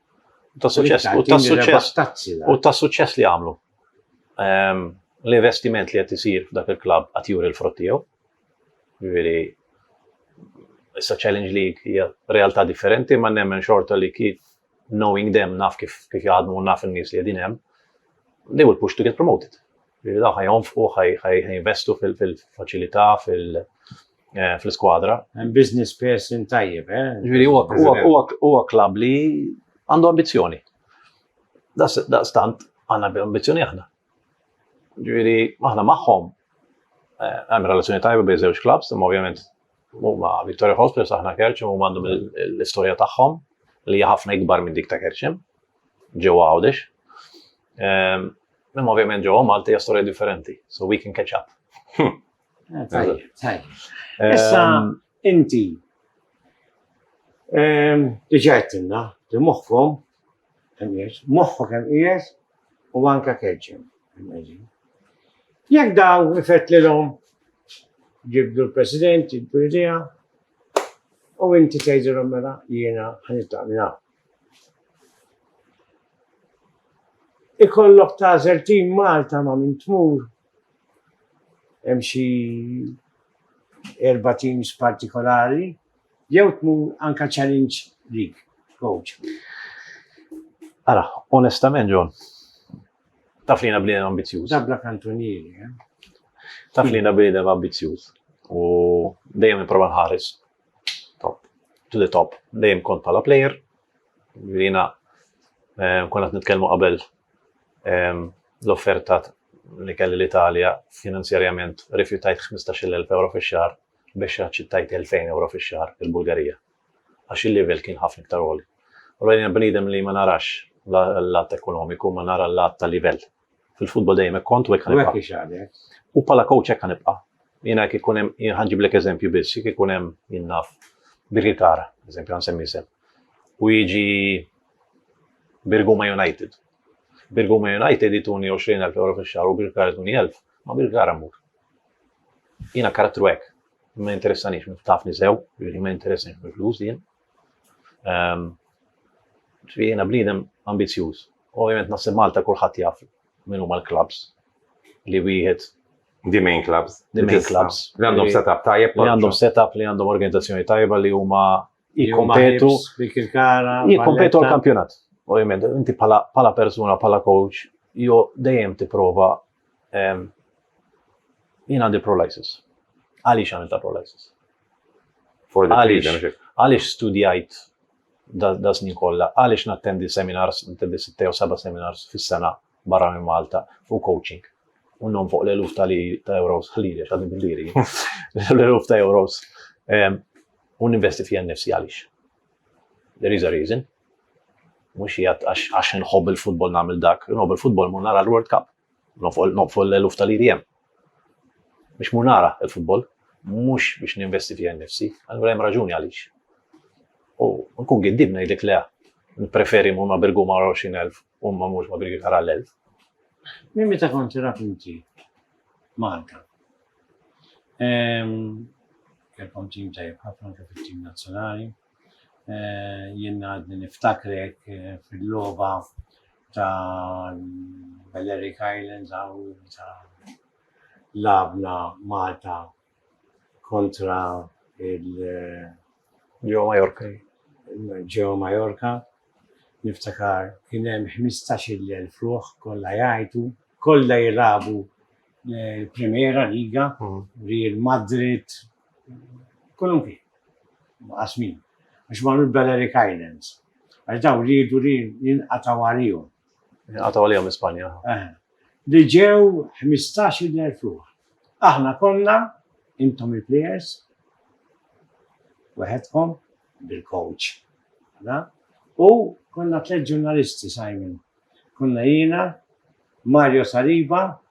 Ta' suċess, u ta' suċess, u ta' suċess li għamlu. Ehm, l-investiment li qed isir f'dak il-klabb qed juri l-frott tiegħu. Ġifieri issa Challenge League hija realtà differenti ma nemmen xorta li kif knowing them naf kif kif jaħdmu u naf in-nies li qegħdin hemm, they will push to get promoted. Ġifieri daw ħajjonfqu, ħajinvestu fil-faċilità, fil-, fil eh, fl-iskwadra. Business person tajjeb, eh? Ġviri, huwa klab li għandu ambizjoni. Daqstant għanna ambizjoni aħna. Ġviri, aħna maħħom eh, għam relazzjoni tajba bej żewġ klabs, imma ovvjament huma Victoria Hospitals aħna kerċem huma għandhom l-istorja tagħhom li ħafna ikbar minn dik ta' kerċem ġewwa għawdex. Ehm, imma ovvjament ġewwa Malta hija storja differenti, so we can catch up. Tajjeb, tajjeb. Ehm, Issa inti ehm, diġà qedtilna li moħħkom moħħok hemm qiegħed u anke keġġem. Jekk daw ifett lilhom ġibdu l-President, ġibdu l-idea, u inti tgħidilhom mela jiena ħanitlaq minn hawn. Ikollok tażel tim Malta ma' minn tmur hemm xi erba teams partikolari, jew tmu anka challenge league, coach. Ara, onestament John, taf li jena bniedem ambizjuż. Dabla kantonieri, eh? Taf li jena bniedem ambizjuż u dejjem nipprova nħares top, to the top, dejjem kont bħala player, jena eh, konat nitkellmu qabel l-offerta li kelli l-Italja finanzjarjament rifjutajt 15,000 ewro fix-xahar biex aċċettajt 2,000 ewro fix-xahar il-Bulgarija għax il-livell kien ħafna iktar għoli. Allura jiena bniedem li ma narax l-lat ekonomiku ma nara l-lat ta' livell. Fil-futbol dejjem hekk kont u hekk ħanibqa'. U bħala coach hekk ħanibqa'. Jiena jekk ikun hemm ħanġiblek eżempju biss, jekk ikun hemm jien naf Birkirkara, eżempju ħansemmi isem, u jiġi Birguma United. Birguma United ituni 20,000 euro fix-xahar u Birkar ituni 1,000, ma' Birkar ammur. Jiena karattru hekk, ma jinteressanix, tafni sew, jiġifieri ma jinteressani mill-flus jien. Ehm, ġifieri jiena bniedem ambizzjuż. Ovvjament naħseb Malta kulħadd jaf min huma l-clubs li wieħed The main clubs. The main clubs. Li għandhom setup tajjeb. Li għandhom setup, li għandhom organizzazzjoni tajba li huma jikkompetu jikkompetu għal kampjonat. Ovvjament, inti pala persuna, pala coach, jo dejjem tipprova ehm, jien għandi prolysis. Għaliex għamil ta' prolysis? Għaliex studjajt da snin kollha, għaliex nattendi seminars, nattendi 6 u 7 seminars fis-sena barra minn Malta fuq coaching. U non fuq l-eluf ta' euros, ħalli għax għadni bil-liri. L-eluf ta' euros. Ehm, u ninvesti fija nifsi għalix. There is a reason. Mux jgħat għax nħobb il-futbol namil dak. Nħobb il-futbol mu nara l-World Cup. Nofol l-eluf tal-IDM. Biex mur nara l-futbol, mhux biex ninvesti fija nnifsi, allura hemm raġuni għaliex. U nkun giddib ngħidlek le, nippreferi mmur ma' Birguma għal 20,000 u ma mmurx ma' Birkirkara għal 1,000. Minn meta kont tilgħab inti Malta? Ehm, kellkom tim tajjeb ħafna anke fit-tim nazzjonali. Eh, jien għadni niftakrek eh, fil-loba ta' Balearic Islands għaw ta' labna Malta kontra il- eh, Ġew Majorka. ġew Majorka, niftakar kien hemm 15,000 ruħ kollha jgħajtu, kollha jilagħbu eh, l-Primera Liga, Mm. Real Madrid, Kolunki, maqasmin, għax marru l-Balearic Islands, għax daw riedu li jinqataw għalihom. Jinqataw għalihom minn Spanja. Eh, li ġew 15,000 ruħ. Aħna konna, intom il-players, weħedkom bil-coach. U konna tliet ġurnalisti, Simon. Konna jiena, Mario Saliba,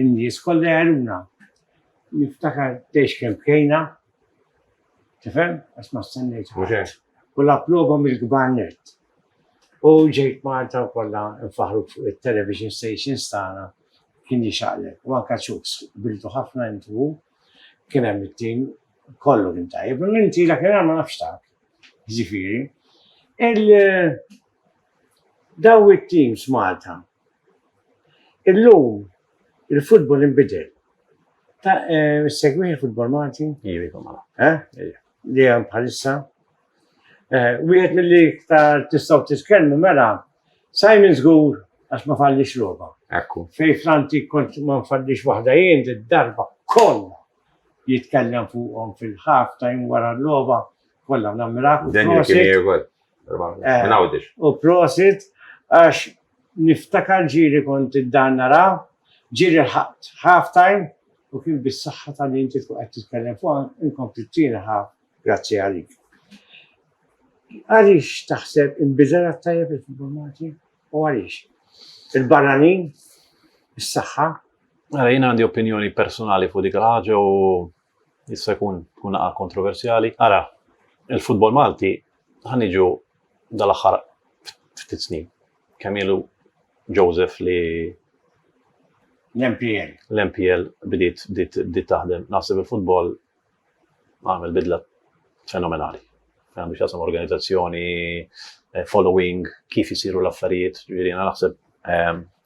In-nies kollha jgħinuna. Niftakar tgħix kemm bkejna, tifhem, għax ma stennejt ħadd. U l-approba mill-kbar nett. U ġejt Malta u kollha nfaħħruk fuq it-television stations tagħna kien jixaqleb. U anke Chuks, qbiltu ħafna int u hu, kien hemm it-tim kollu kien tajjeb. Minn tila kien ma nafx tak, jiġifieri. Daw it-teams Malta. Illum il-futbol inbidel. Ta' eh, segwih il-futbol Malti? Ivi, kumma. Eh? Ivi. Li hemm bħalissa. Eh, wieħed mill-li iktar tistgħu titkellmu mela Simon żgur għax ma fallix logħba. Ekku. Fej Franti kont ma fallix waħda jien id-darba kollha jitkellem fuqhom fil-ħaf ta' jum wara l-logħba kollha nammirak. Dan jien kien Eh, u prosit, għax niftakar ġiri kont id-dan nara, ġiri ħabt half time u kien bis-saħħa ta' li inti tkun qed titkellem fuq inkompli t-tieni ħaf grazzi għalik. Għaliex taħseb inbidel tajjeb il-futbol Malti u għaliex? Il-barranin, is-saħħa. Għara jien għandi opinjoni personali fuq dik ħaġa u Issa jkun tkun naqa' kontroversjali. Ara, il-futbol Malti ħan niġu dal-aħħar ftit snin. Kemm ilu Joseph li l-MPL. L-MPL bdiet bdiet taħdem. Naħseb il-futbol għamel bidla fenomenali. Għandu xasam organizzazzjoni, eh, following, kif jisiru l-affarijiet, ġviri, naħseb ehm,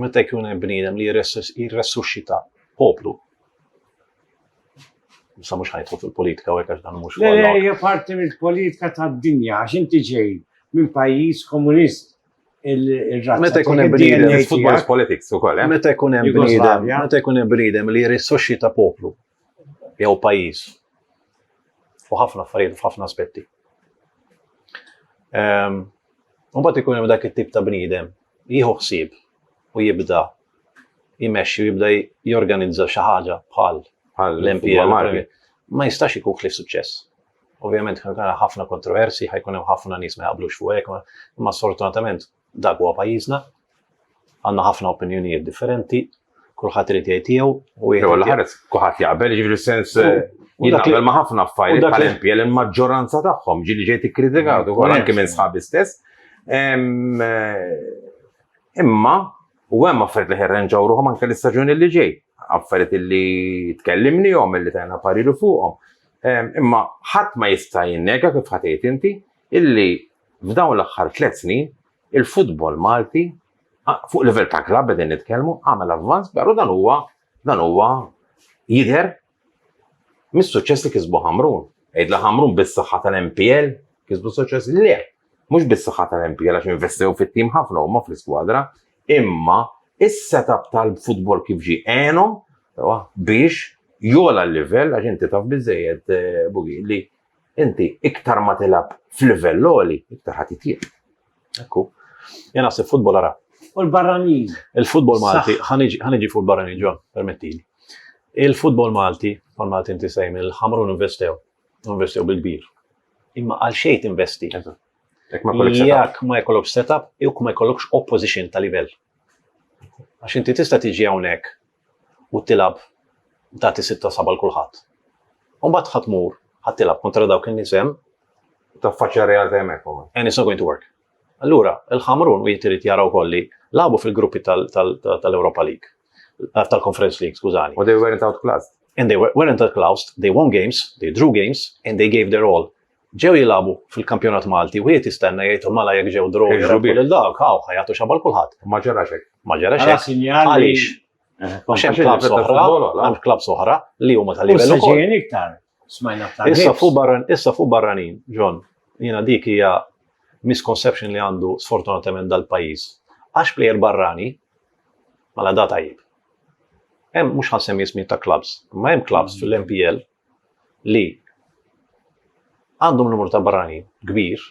Meta jkun hemm bniedem li jirressuxxita poplu. Sa mhux ħajtu fil-politika u għax dan mhux. Le, hija parti mill-politika tad-dinja għax inti ġej minn pajjiż komunist il-razza. Meta jkun hemm bniedem, football politics ukoll, eh? Meta jkun hemm bniedem, meta jkun hemm bniedem li jirrissoxxita poplu. jew pajjiż fuq ħafna affarijiet f'ħafna aspetti. Ehm, mbagħad ikun hemm dak it-tip ta' bniedem jieħu ħsieb u jibda jmexxi u jibda jorganizza xi ħaġa bħal l-MPL ma jistax ikun ħlif suċċess. Ovvjament ħafna kontroversi, ħajkun hemm ħafna nies ma jaqblux fuq hekk, imma sfortunatament Dak huwa pajjiżna. Għandna ħafna opinjonijiet differenti, kulħadd irid jgħid tiegħu u jgħid. Jew ħares kulħadd jaqbel jiġri sens eh, jien naqbel ma' ħafna affarijiet bħal MPL il-maġġoranza tagħhom ġieli ġejt ikkritikat mm, ukoll anke minn sħabi stess. Eh, imma u hemm affarijiet li ħerrenġaw ruħhom anke l-istaġun li ġej, affarijiet li tkellimni jom li tajna parilu fuqhom. Imma ħadd ma jista' jinnega kif ħatejt inti illi F'dawn l-aħħar tliet snin, il-futbol Malti, fuq livell ta' klabb qegħdin nitkellmu, għamel avvanz però dan huwa dan huwa jidher mis-suċċess li kisbu Ħamrun. Għidla Ħamrun bis-saħħa tal-MPL kisbu suċċess le. Mhux bis-saħħa tal-MPL għax investew fit-tim ħafna huma fl-iskwadra, imma is-setup tal-futbol kif ġie għenhom biex jola l-livell għax inti taf biżejjed eh, bugi li Inti iktar ma tilab f'livell għoli, iktar ħadd jitjieb. Ekku. Jien naħseb futbol ara. U l-barranin. Il-futbol Malti, ħaniġi fuq barranin ġo, permettili. Il-futbol Malti, għal Malti inti sejm, il-ħamrun investew, investew bil-kbir. Imma għal xejn investi. Jekk ma jkollokx setup. Jekk ma jkollokx setup, jekk ma jkollokx opposition ta' livell. Għax inti tista' tiġi hawnhekk u tilgħab tagħti sitta saba' l kulħadd. U mbagħad ħa tmur ħa tilgħab kontra dawk in-nies hemm. Taffaċċja r-realtà hemmhekk ukoll. And it's not going to work. Allura, il-Ħamrun u jitrid jara wkoll li labu fil-gruppi tal-Europa League, eh, tal-Conference League, skużani. U they weren't outclassed. And they weren't outclassed, they won games, they drew games, and they gave their all. ġew jilagħbu fil-kampjonat Malti, wieħed jistenna jgħidhom mala jekk ġew draw jirabbu lil dawk, hawn ħajatu xabal kulħadd. Ma ġarax hekk. Ma ġarax hekk. Għaliex? Eh, Għax hemm klabb soħra, hemm klabb soħra li huma tal-livell ukoll. iktar. Smajna ta' Issa fuq barran, issa fuq barranin, John, jiena dik hija misconception li għandu sfortunatament dal-pajjiż. Għax plejer barrani, mala da tajjeb. Hemm mhux ħansem jismi ta' klabbs, ma hemm klabbs mm. fil-MPL li għandhom numru ta' barranin kbir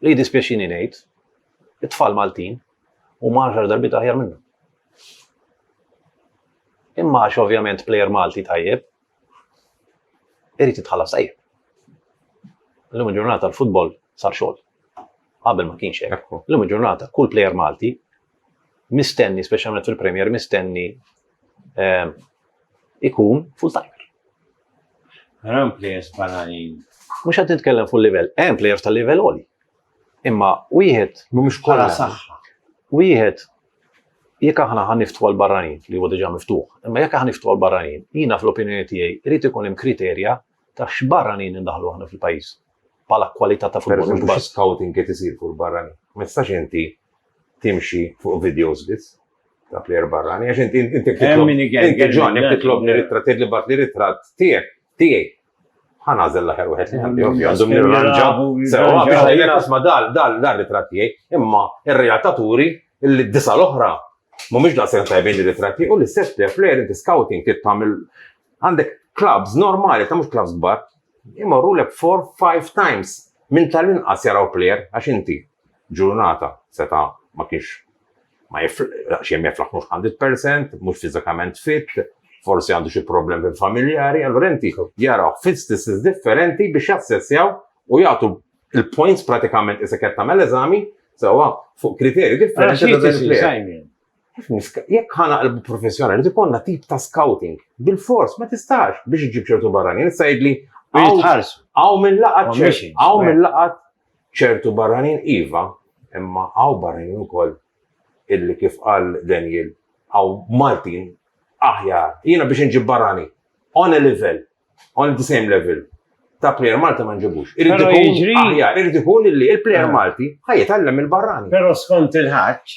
li jiddispjaċini ngħid it-tfal Maltin u marħar darbit aħjar minnu. Imma għax ovvjament plejer Malti tajjeb, irrit jitħallas tajjeb. L-lum ġurnata l-futbol sar xogħol. Qabel ma kienx hekk. L-lum ġurnata kull plejer Malti mistenni, speċjalment fil-Premier, mistenni ehm, ikun full time. Ram players bananin. Mux għad nitkellem full level, hemm players tal level oli. Imma wieħed mhumiex kollha saħħa. Wieħed jekk aħna ħan niftu għal barranin li huwa diġà miftuħ, imma jekk aħna niftu għal barranin, jiena fl-opinjoni tiegħi irid ikun hemm kriterja ta' x'barranin indaħħlu aħna fil-pajjiż bħala kwalità ta' futbol. Pereżempju, xi scouting qed isir fuq il-barranin. Ma tistax inti timxi fuq videos biss ta' plejer barrani għax inti inti titlob. Inti ġon, jekk titlobni ritratt tgħidli bat li ritratt tiegħek tiegħi. Ħanażel l-aħjar wieħed li għandi ovvja għandhom nirranġa. Sewa biex ngħidlek isma' dal dal dal ritratt tiegħi, imma r-realtà turi li d-disa l-oħra mhumiex daqshekk tajbin li ritratt tiegħi u l-istess plejer inti scouting tittamil Għandek clubs normali ta' mhux clubs kbar imorrulek four, five times minn tal-inqas jaraw plejer għax inti ġurnata seta' ma kienx ma jiflaħx xejn ma jiflaħx mhux hundred percent, mhux fiżikament fit, forsi għandu xi problemi familjari, allura inti jarawh fi statistics differenti biex jassessjaw u jagħtu l-points pratikament isek qed tagħmel eżami sewwa fuq kriterji differenti ta' dan il-plejer. Jekk ħana qalbu professjonali, tikonna tip ta' scouting. Bil-fors, ma tistax biex iġib ċertu barranin. Issa jidli. Għaw minn laqat ċertu. Għaw minn laqat ċertu barranin iva, imma għaw barranin ukoll illi kif qal Daniel, għaw Maltin aħjar. Jiena biex nġib barrani. On a level. On the same level ta' player Malti ma nġibux. Irrid ikun aħjar, irrid ikun illi il-player Malti ħajjitgħallem il-barrani. Però skont il-ħaġġ,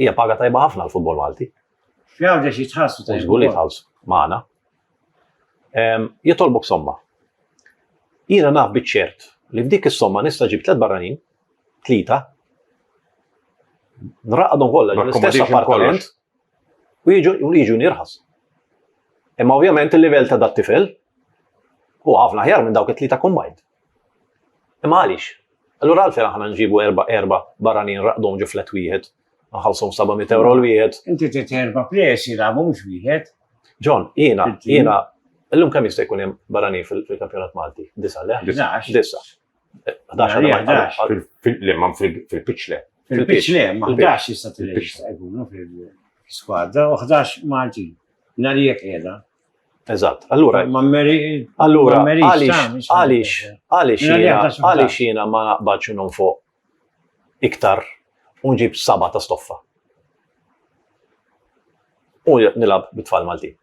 Hija paga tajba ħafna għall-futbol Malti. F'Għawdex jitħassu tajba. Żgur li jitħallsu magħna. Jitolbok somma. Jiena naf biċ-ċert li f'dik is-somma nista' ġib tliet barranin, tlieta, nraqadhom kollha l-istess appartament, u jiġu nirħas. Imma ovvjament il-livell ta' dat tifel u ħafna ħjar minn dawk it-tlieta kombajt. Imma għaliex? Allura għalfejn aħna nġibu erba erba barranin raqdom ġu flet wieħed, nħallsom 700 euro l-wieħed. Inti trid erba plejers jilagħbu mhux wieħed. John, jiena, jiena, illum kemm jista' jkun hemm barranin fil-kampjonat Malti? Disa, le? Disa. L-imman fil-piċle. Fil-piċle, ma 11 jista' jkunu fil-skwadra u 11 Malti. Narijek qiegħda. Eżatt, allura. Ma meri. Allura, għalix, għalix, għalix, għalix jiena ma naqbadx unum fuq iktar unġib saba ta' stoffa. U nilab bit-tfal Malti.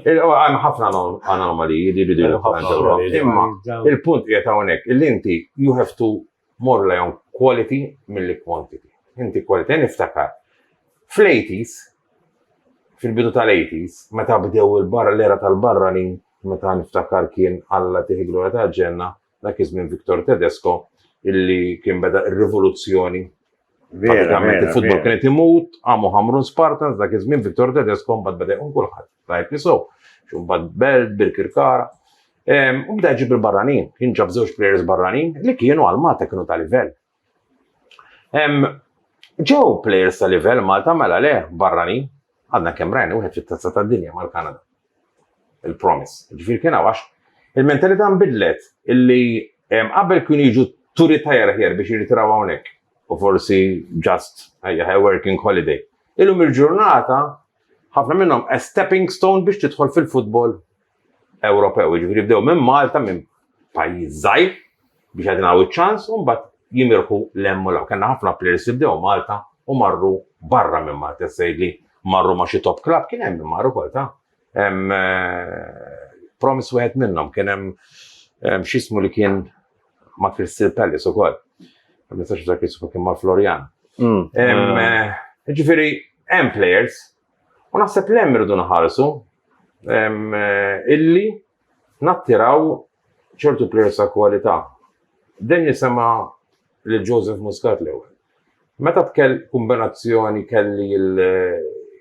Għan ħafna anomaliji li bidu Imma il-punt qiegħed hawnhekk il inti you have to more rely on quality mill quantity. Inti quality niftakar. Fl-80s, fil-bidu tal-80s, meta bdew il-barra l-era tal-barranin, meta niftakar kien Alla tiħi glorja tal-ġenna, Dak iż-żmien Victor Tedesco illi kien beda ir-rivoluzzjoni Pratikament il-futbol kien qed imut, għamu Hamrun Spartans dak iż-żmien Victor Tedesco mbagħad beda jkun kulħadd tajb nisu, x'mbagħad Belt, Birkirkara. U bda ġib il-barranin, kien ġab żewġ players barranin li kienu għal Malta kienu ta' livell. Ġew players ta' livell Malta mela le barrani għadna kemm rajna wieħed fit-tazza tad-dinja mal-Kanada. Il-promise. Ġifier kien għax il-mentalità nbidlet illi qabel kienu jiġu turi tajjar aħjar biex jirritiraw hawnhekk u forsi just a working holiday. Illum il-ġurnata ħafna minnhom a stepping stone biex tidħol fil-futbol Ewropew, jiġifieri bdew minn Malta minn pajjiż żgħir biex jagħtinaw iċ-ċans u mbagħad jimirħu l-hemm u l-hawn. Kellna ħafna players li bdew Malta u marru barra minn Malta, tista' tgħidli marru ma' xi top club, kien hemm min mar ukoll ta'. Promise wieħed minnhom kien hemm x'ismu li kien ma' Crystal Palace ukoll. Ma nistax niftakar ismu kien ma' Florian. Ġifieri hemm players U naħseb li hemm irridu naħarsu eh, illi nattiraw ċertu players ta' kwalità. Dejjem nisema lil Joseph Muscat l-ewwel. Meta tkell kombinazzjoni kelli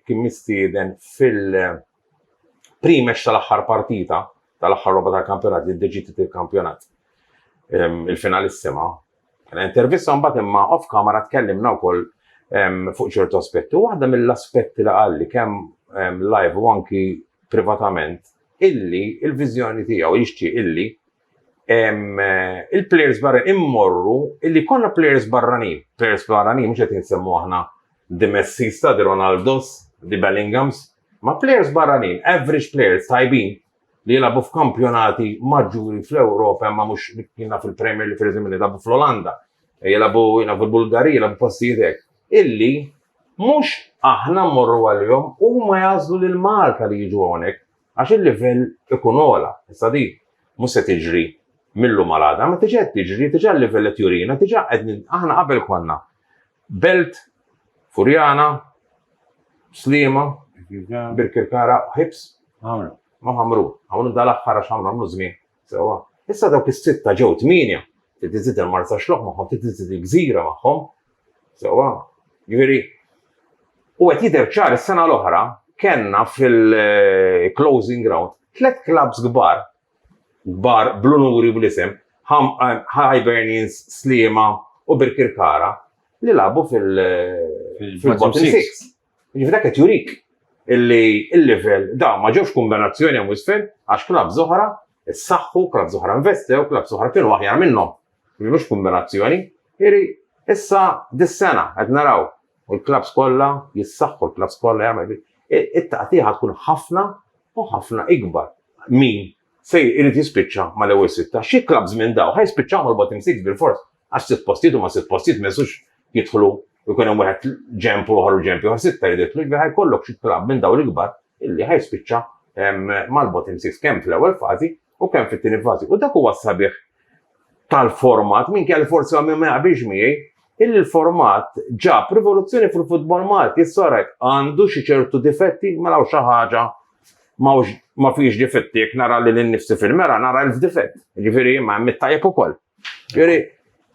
kien mistieden fil-primex tal-aħħar partita tal-aħħar roba tal-kampjonat li deġiti il-kampjonat il-finalissima Kena intervista mbagħad imma off camera tkellimna wkoll fuq ċertu aspetti. U waħda mill-aspetti li qalli kemm live u anki privatament illi il-viżjoni tiegħu jixtieq illi il-players barra immorru illi konna players barrani, players barrani mhux qed insemmu aħna di Messi sta, di Ronaldos, di Bellinghams, ma players barranin, average players tajbin, li jilagħbu f'kampjonati maġġuri fl-Ewropa imma mhux kien naf il-Premier li pereżempju li jilagħbu fl-Olanda, jilagħbu jilagħbu l-Bulgarija, jilagħbu postijiet hekk. Illi mhux aħna mmorru għalihom huma jagħżlu lil Malta li jiġu hawnhekk għax il-livell ikun ogħla. Issa di mhux se tiġri mill-lum għal għada, ma tiġi qed tiġri, diġà l-livell qed jurina, diġà qed aħna qabel konna Belt, Furjana, Sliema, Birkirkara, Ħibs, ma ħamru. Ħamru dal-aħħar għax ħamru għamlu żmien sewwa. Issa dawk is-sitta ġew tmienja. Trid iżid il-Marsaxlokk magħhom, trid iżid il-Gżira magħhom. Sewwa. Jiġifieri u qed jidher ċar is-sena l-oħra kellna fil-closing round tliet klabbs kbar kbar bl-unuri u bl-isem, Hibernians, Sliema u Birkirkara li lagħbu fil-bottom six. Jiġifieri dak qed jurik illi l-livell, dawn ma ġewx kumbenazzjoni hemm u isfel għax klabbs oħra ssaħħu, klabbs oħra investew, klabbs oħra kienu aħjar minnhom. Mhux kumbenazzjoni. Jiġifieri issa dis-sena qed naraw Il-klabbs kollha jissaħħu, l-klabbs kollha jagħmlu, it-taqtigħa tkun ħafna u ħafna ikbar. Min se jrid jispiċċa mal-ewwel sitta? Xi klabbs minn dawn ħa jispiċċaw mal-bottom six bilfors għax sitt postijiet huma sitt postijiet ma jistgħux jidħlu u jkun hemm wieħed ġenb u ieħor u ġenb ieħor sitta jrid jidħlu, jiġifieri ħa jkollok xi klabb minn dawn l-ikbar illi ħa jispiċċa mal-bottom six kemm fl-ewwel fażi u kemm fit-tieni fażi. U dak huwa sabiħ tal-format, minn kelli forsi għamil ma jaqbix miegħi, il-format ġab rivoluzzjoni fil-futbol Malti, s-sorek għandu xi ċertu difetti, ma mela xi ħaġa ma fiex difetti, jek nara li l-nifsi fil-mera, nara l-difett, ġifiri ma mittajab u koll. Ġifiri,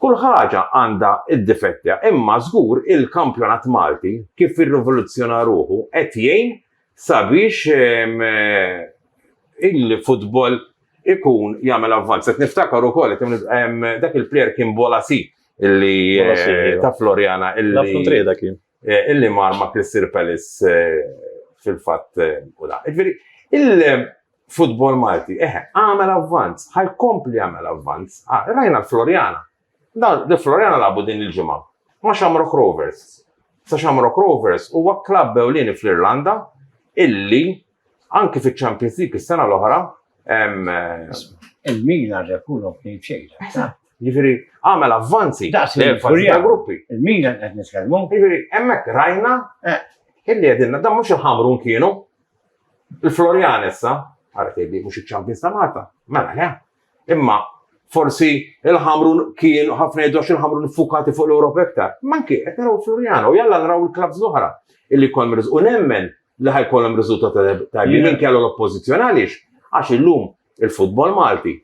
kull ħaġa għanda id-difetti, imma zgur il-kampjonat Malti, kif il-rivoluzzjona ruħu, et jgħin sabiex il-futbol ikun jagħmel avvanz. Qed niftakar ukoll dak il-plejer kien Bolasi illi eh, ta' Floriana illi eh, illi mar ma' Crystal Palace eh, fil-fatt u da. Ġifieri il-futbol Malti eħe għamel avvanz, ħajkompli jagħmel avvanz. Ah, rajna l-Floriana Dan De Floriana lagħbu din il-ġimgħa ma' Shamrock Rovers. Sa Shamrock Rovers huwa klabb ewlieni fl-Irlanda illi anki fiċ-Champions League is-sena l-oħra Il-Milan rebħulhom tnejn b'xejn. Jiġifieri għamel avvanzi ta' gruppi. Il-Milan qed nitkellmu. Jiġifieri hemmhekk rajna eh. illi qegħdilna dan mhux il-ħamrun kienu. Il-Florian issa, għarfedi mhux iċ-Champions ta' Malta, mela le. Imma forsi il-ħamrun kien ħafna jiddu għax il-ħamrun fukati fuq l-Europa iktar. Manki, qed naraw Floriano, jalla naraw il-klabs l-oħra illi kol mriż. U nemmen li ħajkolhom riżultat tajbi minn kellu l-oppożizzjoni għaliex għax illum il-futbol Malti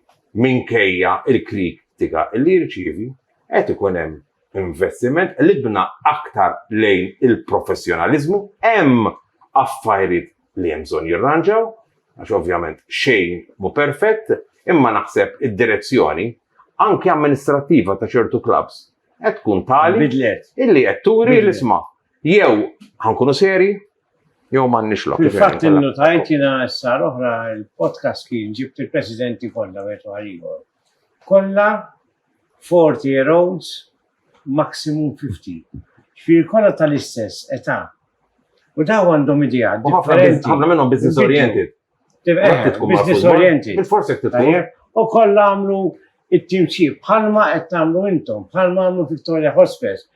minkejja il-kritika illi jirċievi qed ikun hemm investiment libna aktar lejn il-professjonaliżmu hemm affarijiet li hemm bżonn jirranġaw, għax ovvjament xejn mhu perfett, imma naħseb id-direzzjoni anke amministrattiva ta' ċertu klabbs qed tkun tali Bidlet. illi qed turi Bidlet. l-isma' jew ħankunu seri jew m'għandniex lok. Fil-fatt innotajt jiena s-sar oħra l-podcast kien ġibt il-presidenti kollha wieħed wara l-ieħor. Kollha 40 year olds maximum 50. Ġifieri kollha tal-istess età. U daw għandhom idea differenti. Ħafna minnhom business oriented. Business oriented. Bil-forsi tkun. U kollha għamlu it-timċib bħalma qed tagħmlu intom, bħalma għamlu Victoria Hospice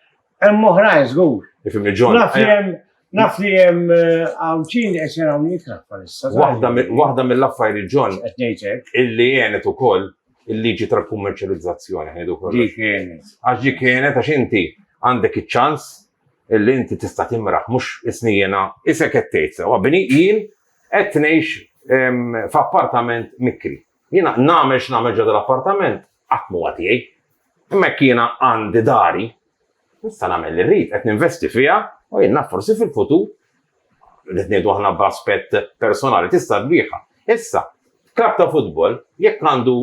Hemm oħrajn żgur. Ifimni ġon. Naf li hemm naf li hemm eh, għawċin li qed jaraw jikrah bħalissa. Waħda mill-affarijiet ġon illi għenet ukoll il-liġi tal-kummerċjalizzazzjoni ħedu kollox. Għax ġi kienet għax inti għandek iċ-ċans illi inti tista' timraħ mhux isnijena isek qed tgħid sewa bini jien qed ngħix f'appartament mikri. Jiena nagħmel x'nagħmel ġodda l-appartament qatt m'huwa tiegħi. Imma jekk jiena għandi dari, nista' nagħmel li rrid, qed ninvesti fiha u jien naf forsi fil-futur li tniedu aħna b'aspett personali tista' tbieħha. Issa, klab ta' futbol, jekk għandu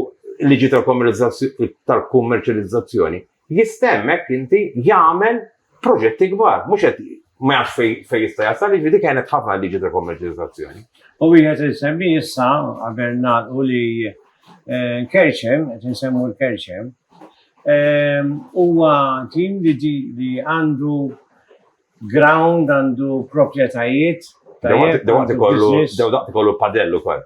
liġi tal-kummerċjalizzazzjoni, jista' hemmhekk inti jagħmel proġetti kbar, mhux qed ma jafx fejn fejn jista' jasal, jiġifieri dik għenet ħafna l-liġi ta' kummerċjalizzazzjoni. U wieħed insemmi issa qabel nagħlqu li nkerċem, qed insemmu l-kerċem, huwa tim li li għandu ground, għandu proprjetajiet. Dew daqt ikollu padell ukoll.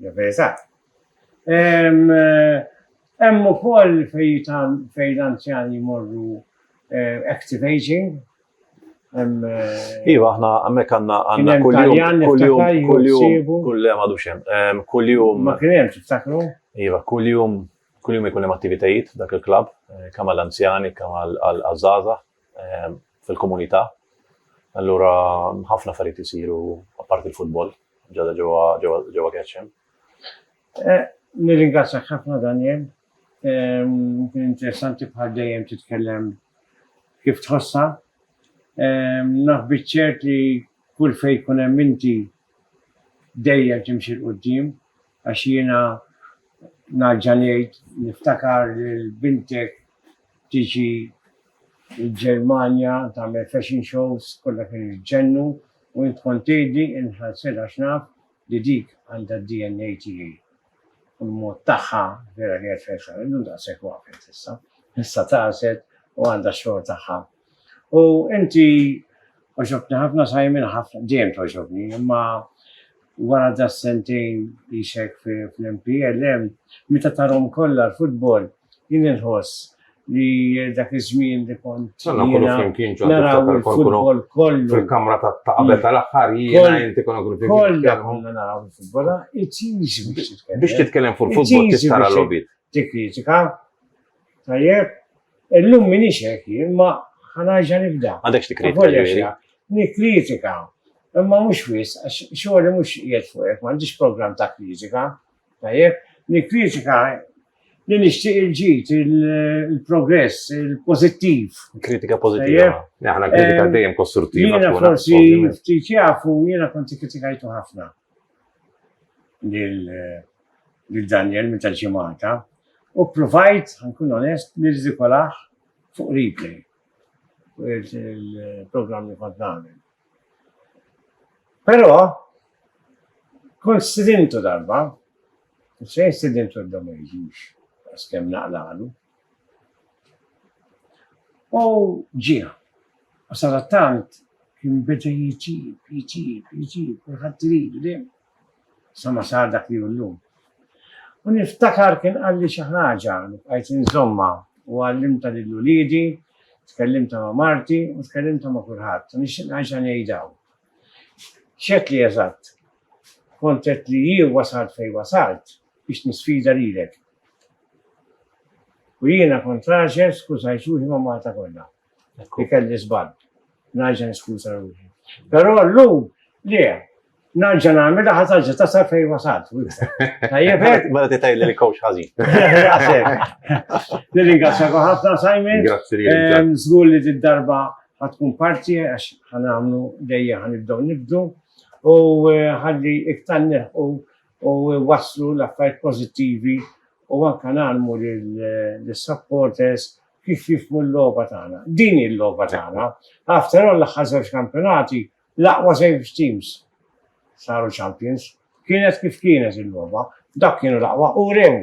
L-verità. Hemm ukoll fejn l-anzjani jmorru active aging, Iva, aħna għammek għanna għanna kull-jum, kull-jum, kull-jum, kull-jum għadu xem, kull-jum. Ma kienem, tiftakru? Iva, kull-jum, kull-jum jkunem attivitajiet dak il-klab, eh, kam għal-anzjani, kam għal-azzaza, eh, fil-komunità. Allura ħafna affarijiet isiru apparti l-futbol ġada ġewwa Ketchum. Eh, nirringrazzjak ħafna Daniel. Ehm, kien interessanti bħal dejjem titkellem kif tħossha. Ehm, naf biċċert li kull fejn kun hemm inti dejjem timxi l-qudiem għax jiena naġġa ngħid niftakar lil bintek tiġi l-Ġermanja tagħmel fashion shows kollha kienu jġennu u int kont tgħidli inħallsitha għax naf li dik għandha d-DNA tiegħi u l-mod tagħha vera kienet fashion illum daqshekk waqfet issa issa tagħset u għandha x-xogħol tagħha U inti oġobni ħafna Simon ħafna dejjem toġobni, imma wara da sentejn ixek fl-MPL hemm meta tarhom kollha l-futbol jien inħoss li dak iż-żmien li kont naraw il-futbol kollu. Fil-kamra ta' qabel mm. tal-aħħar jiena inti konna kull fil-futbol. Kollha konna naraw il-futbol, ah, it biex titkellem. Biex titkellem fuq il-futbol tistara l-lobit. tikkritika. Tajjeb, illum minix hekk jien, ma ħanarġa' nibda. Għandekx tikkritika. Nikkritika, imma mhux wis, għax xogħli mhux qiegħed fuq hekk, m'għandix programm ta' kritika. Tajjeb, nikkritika li nixtieq il-ġid, il-progress, il-pożittiv. Kritika pożittiva. Aħna kritika dejjem kostruttiva. Jiena forsi ftit jafu jiena kont ikkritikajtu ħafna. lil Daniel minn tal-ġimgħata u provajt nkun onest nirżikolaħ fuq replay il-programm li kont nagħmel. Però kont stidintu darba, xejn stidintu d-dom ma jiġix, għax kemm naqlaqlu. U ġie. U sadattant kien beda jġib, jġib, jġib, kulħadd iridu dejjem. Sa ma sar dak li llum. U niftakar kien qalli xi ħaġa li bqajt inżommha u għallimta lil uliedi, tkellimta ma' marti u tkellimta ma' kulħadd. U nixtieq nerġa' ngħidha. X'għedt li eżatt? Kont għedt li hi wasalt fejn wasalt biex nisfida lilek. U jiena kont raġel, skużajt ruħi ma' Malta kollha. Li kelli żball. Nerġa' niskuża ruħi. Però llum le, Narġa nagħmilha ħażaġġa ta' sa fejn wasalt. Tajjeb hekk. Mela titgħid li kowx ħażin. Nirringrazzjak ħafna Simon. Grazzi li ehm, Żgur li darba ħatkun parti għax ħanamlu dejja ħanibdew nibdu u eh, ħalli iktar neħu u jwasslu l-affarijiet pożittivi u anke ngħallmu lis-supporters kif jifhmu l-logħba tagħna. Din hi l-logħba tagħna. After all l-aħħar żewġ kampjonati l-aqwa żewġ teams saru champions. Kienet kif kienet il-logħba, dak kienu l-aqwa u rew